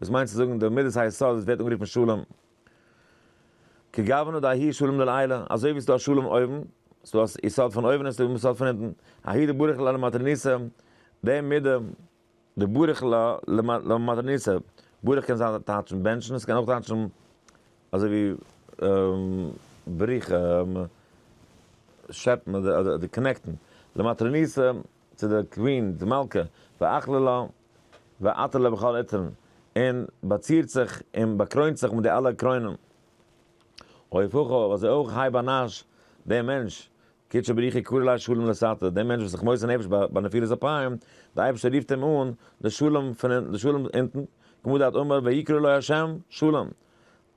וואס מיינט צו זאגן די מדת היסוד וואס ווערט אנגערופן שלום, כגוונא דאהי שלום לעילא, אזוי ווי עס איז דא א שלום אויבן, עס איז דא א יסוד פון אויבן און עס איז דא א יסוד פון אונטן, אהי די ברך ל למטרניסא, די מידה, די ברך ל למטרניסא, ברך קען זיין טייטשן בענטשן, עס קען אויך טייטשן אזוי ווי בריחה, שעפן אדער קאנעקטן, למטרניסא, צו די קווין, די מלכה, ואכלה לה. ועטרת לו בכל עטרן, און באצירט זיך און באקרוינט זיך מיט די אלע קרוינען. הויפוך אויף אזוי אויך הייב אנאש דעם מענטש, קדשו בריחי קרא לה שלום לסתר, דעם מענטש וואס איז זיך מוסר נפש ביי נפילת אפיים, דער אייבערשטער רופט אים אן לשלום פון לשלום אונטן, כמו דארט אמר ויקרא לו השם שלום,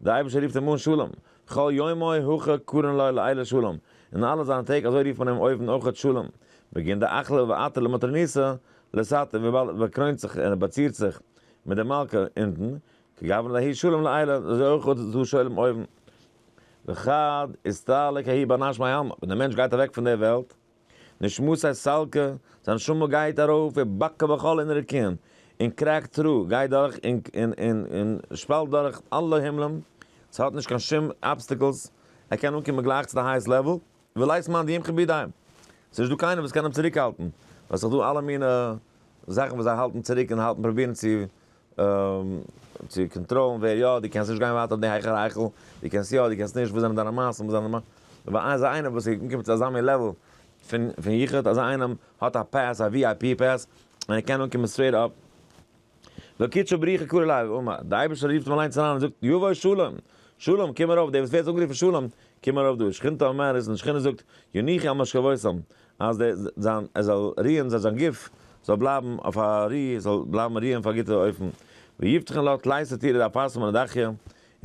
דער אייבערשטער רופט אים אן שלום, כל יומו הכה קרן לו לעילה שלום, אין אלע זיינע טעג אזוי רופט מען אים אויבן אויכעט שלום, בגין די אכלה ואתה למטרניסה לסת און וויבאלד ער באקרוינט זיך און ער באצירט זיך מיט די מלכה אונטן, כגוון להיא שלום לעילה, אזוי אויך איז דא שלום אויבן. וכד, הסתלק ההיא באנאש מעלמא, ווען דער מענטש גייט אוועק פון דער וועלט, נשמת סיי סלקה, זיין נשמה גייט ארויף ווי בקע בכל אין רקיען, און קרעקט תרו, גייט דורך און שפאלט דורך אלע הימלען, ס'האט נישט קיין שום אבסטיקלס, ער קען אנקומען גלייך צו די הייעסט לעוועל, ולית מאן דיימך בידי, ס'נישט דא קיינער וואס קען אים צוריקהאלטן, וועל זיך דא אלע מיני זאכן וואס זיי האלטן צוריק און האלטן פרובירן צו צו קאנטראלן ווער יא, דו קענסט נישט גיין ווייטער אויף די הייכער היכל, דו קענסט יא, דו קענסט נישט, וואס זענען דיינע מעשים, וואס זענען דיינע מעשים, אזא איינער וואס איז אנגעקומען צו אזא מין לעוועל פון פון יחוד, אזא איינעם האט א פעס, א ווי איי פי פעס, און ער קען אנקומען סטרעיט אפ, וקידשא בריך קרא אליו ואמר, די אייבערשטער רופט אים אליינס אריין און זאגט, יבוא שלום, שלום, קום ארויף, דער וואס ווערט אנגערופן שלום, קום ארויף דא, שכינתא אומרת, און די שכינה זאגט, יניחי על משכבותם, אז דער זיין ער זאל רוען זיין זיין גוף זאל בלייבן אויף א רו זאל בלייבן רוען אויף א גוטע אופן, ויבטחון לו תלית סתירה דאפרסה מן הדחיה, און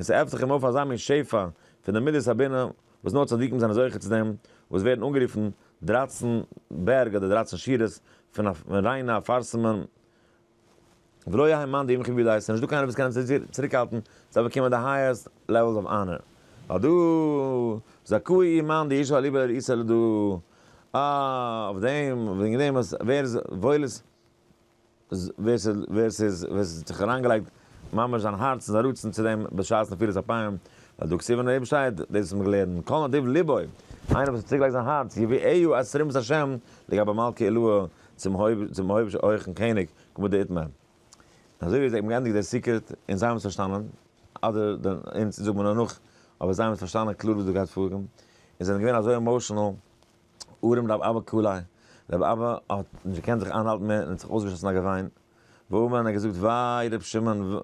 ס'עפנט זיך אים אויף אזא מין שפע פון דער מידת הבינה וואס נאר צדיקים זענען זוכה צו דעם, וואס ווערן אנגערופן דרייצן בערג אדער דרייצן שורות פון א ריינע אפרסה מן ולא יהא מאן דאימכר ווי דו הייסט, ס'נישט דא קיינער וואס קען דיר צוריקהאלטן צו באקומען די הייעסט לעוועלס אוו אנער, ווייל דו זכאי אי מאן דאישא אליבא דאיסא לד אויף דעם, וועגן דעם אז ווער וואויל איז ווער ס'איז ווער ס'האט זיך אריינגעלייגט ממש זיין הארץ און זיין רצון צו דעם בשעת נפילת אפיים, ווייל דא כתוב אין אויבן שטייט דאס וואס מ'האט געלערנט כל נדיב לבו, איינער וואס האט צוגעלייגט זיין הארץ יביא עיהו את רוממות השם לגבי מלכי עילאה, צום היבש הויכן קעניג כבוד די איתמר. אזוי ווי זיי האבן געענדיגט דער סיקרעט און זיי האבן עס פארשטאנען, אדער אונז זאגט מען נאר נאך, אבער זיי האבן עס פארשטאנען קלאר וואס דא גייט פאר, און זיי זענען געווען אזוי עמאושענעל, ארום רב אבא ק ל, רב אבא האט נישט געקענט זיך איינהאלטן מער און האט זיך אויסגעשאסן א געוויין, ואומן און האט געזאגט וויי רב שמעון,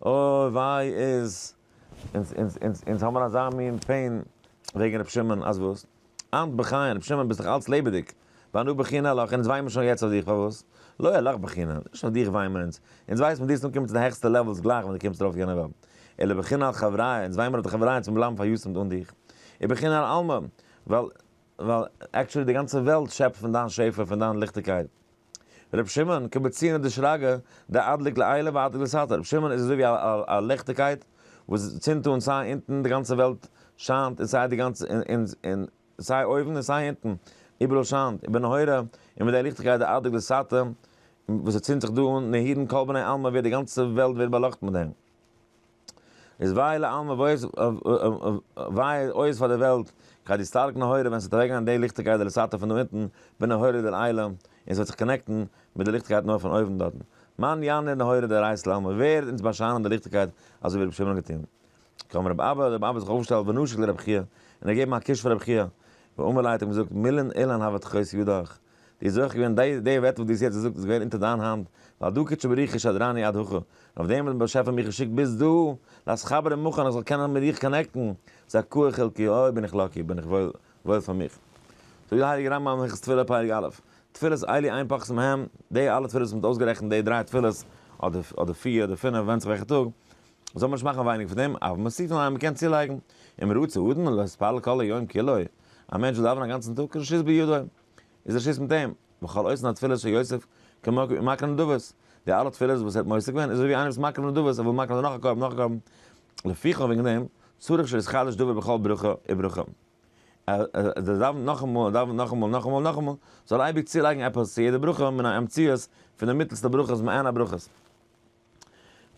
אוי וויי איז אונז, אונז, אונז, אונז האבן אזא מין פעין וועגן רב שמעון, אז וואס? אַנד בחייהן, רב שמעון, ביסט דאָך אַלץ לעבעדיק. ואנו בכינא, אַלאָך, אונדז וויינט מען שוין יעצט אויף דיך, פאַרוואָס? לוי, אַלאָך בכינא, נישט אויף דיך וויינט מען אונדז. אונדז ווייסט מען, דו זאָלסט אָנקומען צו די העכסטע לעוועלס גלייך ווען דו קומסט אַרויף אויף יענער וועלט. אלא בכינא על חבריא, אונדז וויינט מען אויף די חבריא, אונדז מוז מען בלייבן פאַריאָסמט אָן דיך. ובכינא על עלמא, ווייל, ווייל, עקשעלי די גאַנצע וועלט שעפּט פון דיין שפע, פון דיין ליכטיקייט. רבי שמעון, כמציון די שרגא, די אדליק לעילא ואדליק לסתר, רבי שמעון איז אזוי ווי א ליכטיגקייט וואס צינדט אן סיי אונטן, די גאנצע וועלט שיינט, און סיי די גאנצע און סיי אויבן און סיי אונטן, איבעראל שיינט, ובנהורא, און מיט די ליכטיגקייט די אדליק לסתר, וואס ער צינדט זיך דא אן, נהירין כל בני עלמא ווערט די גאנצע וועלט ווערט באלאכטן מיט דעם. איז וויי לעלמא וויי אויס פאר די וועלט, כ'האב די סטארק נהורא ווען ס'וועט אוועקגיין די ליכטיגקייט די לסתר פון דא אונטן בין נהורא דערעילא און ס'וועט זיך קאנעקטן מיט די ליכטיגקייט נאר פון אויבן דארטן מאן ינער נהורא דערעיס לעלמא ווערט אונז באשיינען די ליכטיגקייט אזוי ווי רבי שמעון האט געטון קם רבי אבא האט רבי אבא זיך אויפגעשטעלט ונשק לרבי חייא און ער געבן א קוש פאר רבי חייא ואמר לייט האט אים געזאגט מילין אילן הבטחות יודוך די איז אויך געווען די די ווערטער וואס די האסט יעצט געזאגט איז געווען אונטער דיין האנט ווייל דו קדשא בריחא שדרני עד הכא און אויף דעם האט דער באשעפער מיך געשיקט ביז דא לאז חברה מוכן איך זאל קענען מיט דיך קאנעקטן זכור חלקי אוי בין איך לאקי בין איך וואויל וואויל פאר מיך זאגט דער הייליגער רמב ם אין הלכות תפילה פרק א' תפילת עלי' איין פאכסן מהם די אלע תפילות וואס מען האט אויסגערעכנט די דריי תפילות אדער אדער פיר אדער פינף ווענדט זיך וועלכע טאג זאל מען נישט מאכן ווייניג פון דעם, אויף מוסיפין על המקען צולייגן, אם רוצה אדם להתפלל כל היום כולו, א מענטש וויל דאווענען א גאנצן טאג, רשות בידו, איז רשות מיט אים, וכל עושה התפילות של יוסף כמקריב ומקריב נדבות, די אלע תפילות וואס ער האט מוסיף געווען איז אזויווי איינער וואס מקריב נדבות ער וויל מקריב זיין נאך א קרבן נאך א קרבן, לפיכך וועגן דעם צריך שיתחדש דבר בכל ברכה וברכה, אז ער דאווענט נאכאמאל ער דאווענט נאכאמאל נאכאמאל נאכאמאל, זאל ער אייביג צולייגן עפעס צו יעדע ברכה מן המציאות פון די מיטלסטע ברכות מעין הברכות.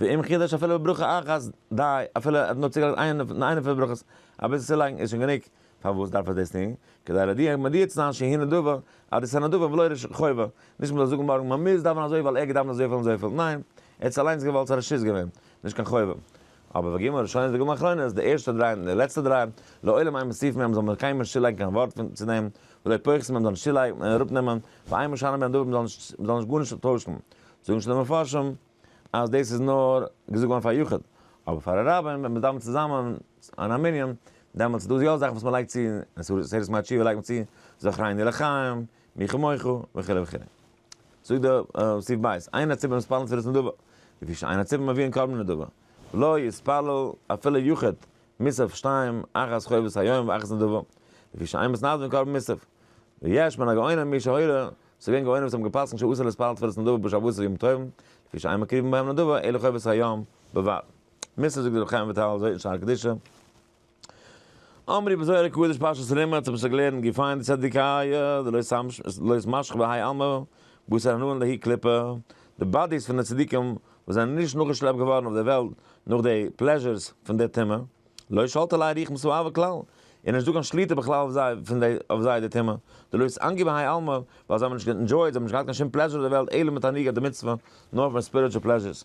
ואם חידש אפילו בברכה אחת, די, אפילו ער האט נאר צוגעלייגט איינע פון די ברכות, אביסל צולייגן איז שוין גענוג, פארוואס דארף ער דאס טון? כדי להודיע מודיע צו זיין שהיא נדבה, אז דאס איז א נדבה ולא רישא חובה, נישט מען זאל זאגן מארגן מען מוז דאווענען אזוי ווייל ער האט געדאווענט אזויפיל און אזויפיל, ניין, ער האט עס אליינס געוואלט, ס'איז א רשות געווען, נישט קיין חובה. אבער וואגומ הראשונה וואגומ האחרונה, די ערשטע דריי און די לעצטע דריי, לעולם אין מוסיפין בהם זאל מען קיינמאל נישט צולייגן קיין ווארט פון צו דעם, ולא פוחתין בהם זאל מען נישט צולייגן און אראפנעמען, ואין משנה בנדבה מען זאל נישט מען זאל נישט גארנישט טוישן, זאגן נישט די מפרשים אז דאס איז נאר געזאגט געווארן פאר יחיד, אבער פאר א רבים ווען מען איז דן צוזאמען אין א מנין, דעמאלטס איז דא יא זאכן וואס מען לייגט צו, אין סעודת מאה תשיעי לייגט מען צו זכרני לחיים, מי כמוך, וכו' וכו'. זאגט די סעיף ב', עיין הציבור מתפללין תפילת נדבה, לפי שעיין הציבור מביאין קרבן נדבה, לא יתפלל אפילו יחיד מוסף שתיים אחת חובת היום ואחת נדבה, לפי שעיין מתנדבין קרבן מוסף, ויש מן הגאונים מי שהורה ס'געווען גאונים וואס האבן געפסקנט שאסור להתפלל תפילת נדבה בשבתות ויום טובים, לפי שאין מקריבין בהם נדבה אלא חובת היום בלבד. מס' זאגט דער רבי חיים וויטאל אזוי אין שער קדישא, אמרי בזוהר הקדוש פרשת רמץ האב איך זיך געלערנט געפיין די צדיקיא דלא משכ בהאי עלמא בשר הנעלם להאי קליפא, די באדיס פון די צדיקים וואס זענען נישט נאכגעשלעפט געווארן אויף דער וועלט נאך די פלעזשערס פון די טומאה, לא שלטה ליה ריח מסואבה כלל, און נישט דא קיין שליטה בכלל אויף זיי פון די אויף זיי די טעמע, די לוי'ס איינגעבן בהאי עלמא, ווייל זיי האבן נישט גענדזשויעט, זיי האבן נישט געהאט קיין שום פלעזשור אויף די וועלט אלא מתענוגת דמצוה, נאר פון ספיריטשול פלעזשורס,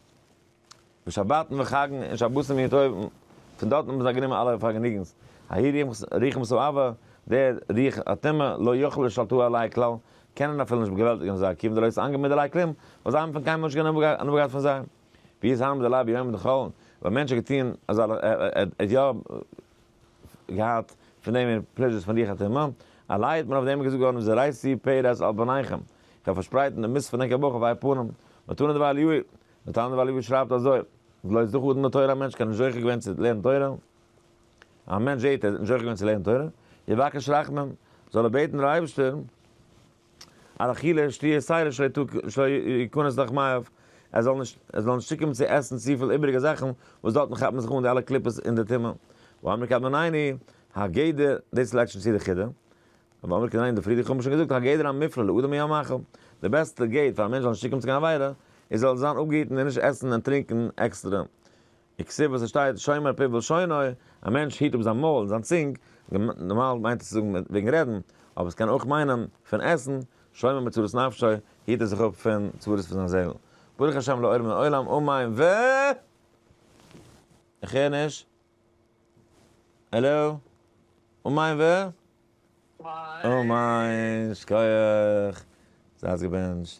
ווי שבתן וחגן און שבתים יום טוב, פון דארטן האבן זיי גענומען אלע פארגעניגנס, ההיא ריח מסואבה, די ריח הטומאה, לא יוכלו לשלטו עליה כלל, קענען אפילו נישט באגעוועלטיגן זיי, כיוון די לוי'ס איינגעבן מיט דערליי כלים, ווייל זיי האבן פון קיינמאל נישט קיין הנאה געהאט פון זיי. ווי איז היינט די לייב ביהמ ד חולון? וואלט מענטש א געטוהן אזא ל ע ער ער ער האט יא געהאט פון דעם מער פלעזשערס פון די חתימה? א לייב האט מען אויף דעם געזאגט געווארן וזרעתי פרס על בניכם, איך וועל פארשפרייטן די מות פון ענקער בוך אויף אייער פנים, מתנא דבעל יאיר, מתנא דבעל יאיר שרייבט אזוי, בלויז דורך אדם לתורה א מענטש קען נישט זוכה געווען צו לערנען תורה, א מענטש זעהט ער איז נישט זוכה געווען צו לערנען תורה, יבקש רחמים, זאל ער בעטן דעם אייבערשטער, על אכילה שתיה סיילה שלא יכנס לך מאיו, ער זאל נישט ער זאל נישט צוקומען צו עסן צופיל איבעריגע זאכן, וואס דארטן כאפט מען זיך אן די אלע קליפות אין די טעמע, ואמר קדמנני הגדר, דאס לייגט שוין צו די חידה, ואמר קדמנני די פרידיגע האבן שוין געזאגט הגדר המפלה לאדם מן המאכל, די בעסטע גדר פאר א מענטש זאל נישט צוקומען צו קיין עבירה, איז ער זאל זיין אפגעהיטן און נישט עסן און טרינקען עקסטערע, וכסוף וואס עס שטייט שומר פיו ולשונו, א מענטש היט אפ זיין מויל און זיין צונג, נארמאל מיינט עס צו זאגן וועגן רעדן, אבער עס קען אויך מיינען פון עסן, שומר מצרות נפשו, היט ער זיך אפ פון צרות פון זיין זעהל. ברוך השם לאור מן העולם אמן ו. איך הער נישט. העלאו? אמן ו. אָ מײַן שכּוח! זײַט געבענטשט!